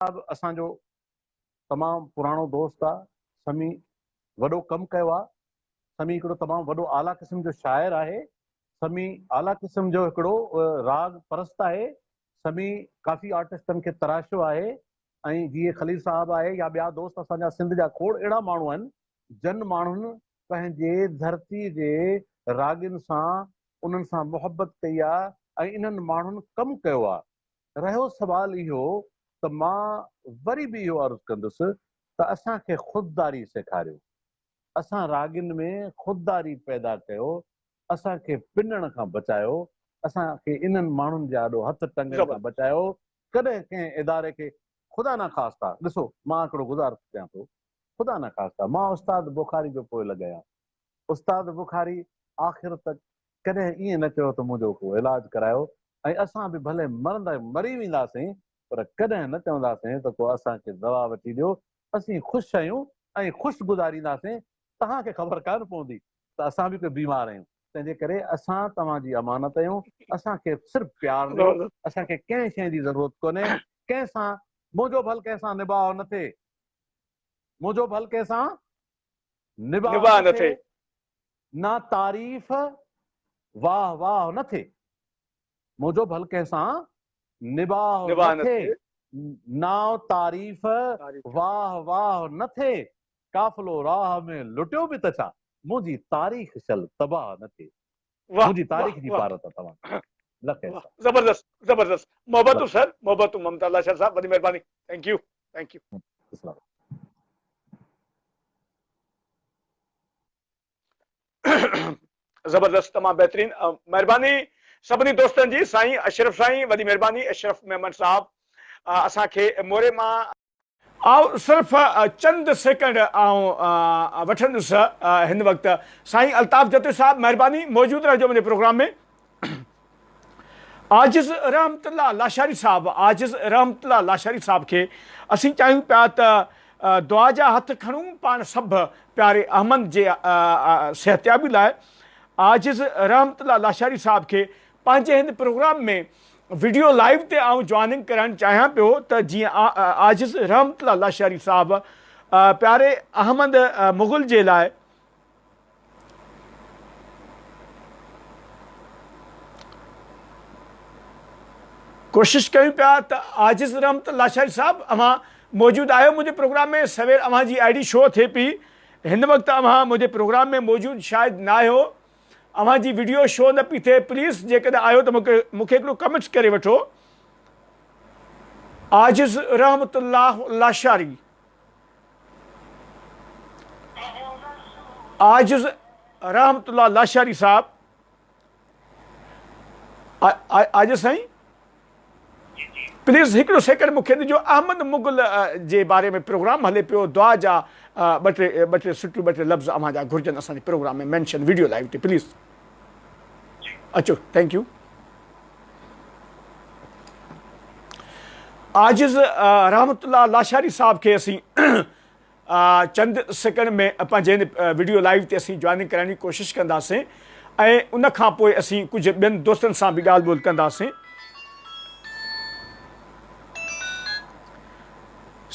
اها به اسان جو تمام پراڻو دوست آ سمي وڏو ڪم ڪيو آ سمي هڪڙو تمام وڏو اعليٰ قسم جو شاعر آهي سمي اعليٰ قسم جو هڪڙو راڳ پرست آهي سمي ڪافي آرٽسٽن کي تراشيو آهي ۽ جيئي خليل صاحب آهي يا ٻيا دوست اسان جا سنڌ جا کوڙ اهڙا ماڻهو آهن جن ماڻهن پنهنجي ڌرتي جي راڳين سان انهن سان محبت ڪئي آ ۽ انهن ماڻهن ڪم ڪيو آ رهيو سوال اهو ته مان وري به اهو عرض ڪندس ته اسان کي خودداري سيکاريو، اسان راڳين ۾ خودداري پيدا ڪيو، اسان کي پنڻ کان بچايو، اسان کي انهن ماڻهن جي آڏو هٿ ٽنگڻ کان بچايو، ڪڏهن ڪنهن اداري کي خدا نخواسته، ڏسو مان هڪڙو گذار ڪيان ٿو، خدا نخواسته مان استاد بخاري جو پوء لڳايان، استاد بخاري آخر تڪ ڪڏهن ائين نه چيو ته منهنجو ڪو علاج ڪرايو ۽ اسان به ڀلي مرندا مري وينداسين پر ڪڏهن نه چونداسين ته ڪو اسان کي دوا وٺي ڏيو اسين خوش آهيون ۽ خوش گذارينداسين توهان کي خبر ڪانه پوندي ته اسان به ڪي بيمار آهيون تنهنجي ڪري اسان توهان جي امانت آهيون اسان کي صرف پيار ڏيو اسان کي ڪنهن شيء جي ضرورت ڪونهي ڪنهن سان منهنجو ڀل ڪنهن سان نباهه نه ٿئي منهنجو ڀل ڪنهن سان نباهه نه ٿئي، نه تعريف واهه واهه نه ٿئي، منهنجو ڀل ڪنهن سان نباهه نه ٿئي، نه تعريف واهه واهه نه ٿئي، قافلو راهه ۾ لٽيو به ته ڇا، منهنجي تاريخ شل تباهه نه ٿئي. منهنجي تاريخ جي پار تان توهان کي لک احسان. زبردست زبردست محبتون سر محبتون ممتاز لاچار صاحب وڏي مهرباني ٿينڪ يو ٿينڪ يو. اسلام. زبردست تمام بهترين مهرباني سڀني دوستن جي سائين اشرف سائين وڏي مهرباني اشرف ميمڻ صاحب اسان کي موري مان آئون صرف چند سيڪنڊ آئون وٺندس هن وقت سائين الطاف جتوئي صاحب مهرباني موجود رهجو منهنجي پروگرام ۾ عاجز رحمت الله لاشاري صاحب عاجز رحمت الله لاشاري صاحب کي اسين چاهيون پيا ته دعا جا هٿ کڻون پاڻ سڀ پياري احمد جي صحتيابي لاء عاجز رحمت الله لاشاري صاحب کي پنهنجي هن پروگرام ۾ وڊيو لائيو تي آئون جوائننگ ڪرائڻ چاهيان پيو ته جيئن عاجز رحمت الله لاشاري صاحب پياري احمد مغل جي لاء ڪوشش ڪيون پيا ته عاجز رحمت لاشاري صاحب اوهان موجود آهيو منهنجي پروگرام ۾ سوير اوهان جي آئي ڊي شو ٿئي پي هن وقت اوهان منهنجي پروگرام ۾ موجود شايد نه آهيو اوهان جي وڊيو شو نه پي ٿئي پليز جيڪڏهن آهيو ته مونکي هڪڙو ڪمينٽس ڪري وٺو عاجز رحمت الله لاشاري عاجز رحمت الله لاشاري صاحب عاجز سائين پليز هڪڙو سيڪنڊ مون کي ڏجو احمد مغل جي باري ۾ پروگرام هلي پيو دعا جا ٻه ٽي ٻه ٽي سٽيون ٻه ٽي لفظ اوهان جا گهرجن اسان جي پروگرام ۾ مينشن ويڊيو لائيو تي پليز اچو ٿينڪ يو عاجز رحمت الله لاشاري صاحب کي اسين چند سيڪنڊ ۾ پنهنجي هن وڊيو لائيو تي اسين جوائننگ ڪرائڻ جي ڪوشش ڪنداسين ۽ ان کان پوء اسين ڪجهه ٻين دوستن سان به ڳالهه ٻولهه ڪنداسين.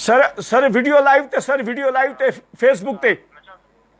سر سر وڊيو لائيو تي سر وڊيو لائيو تي فيس بڪ تي.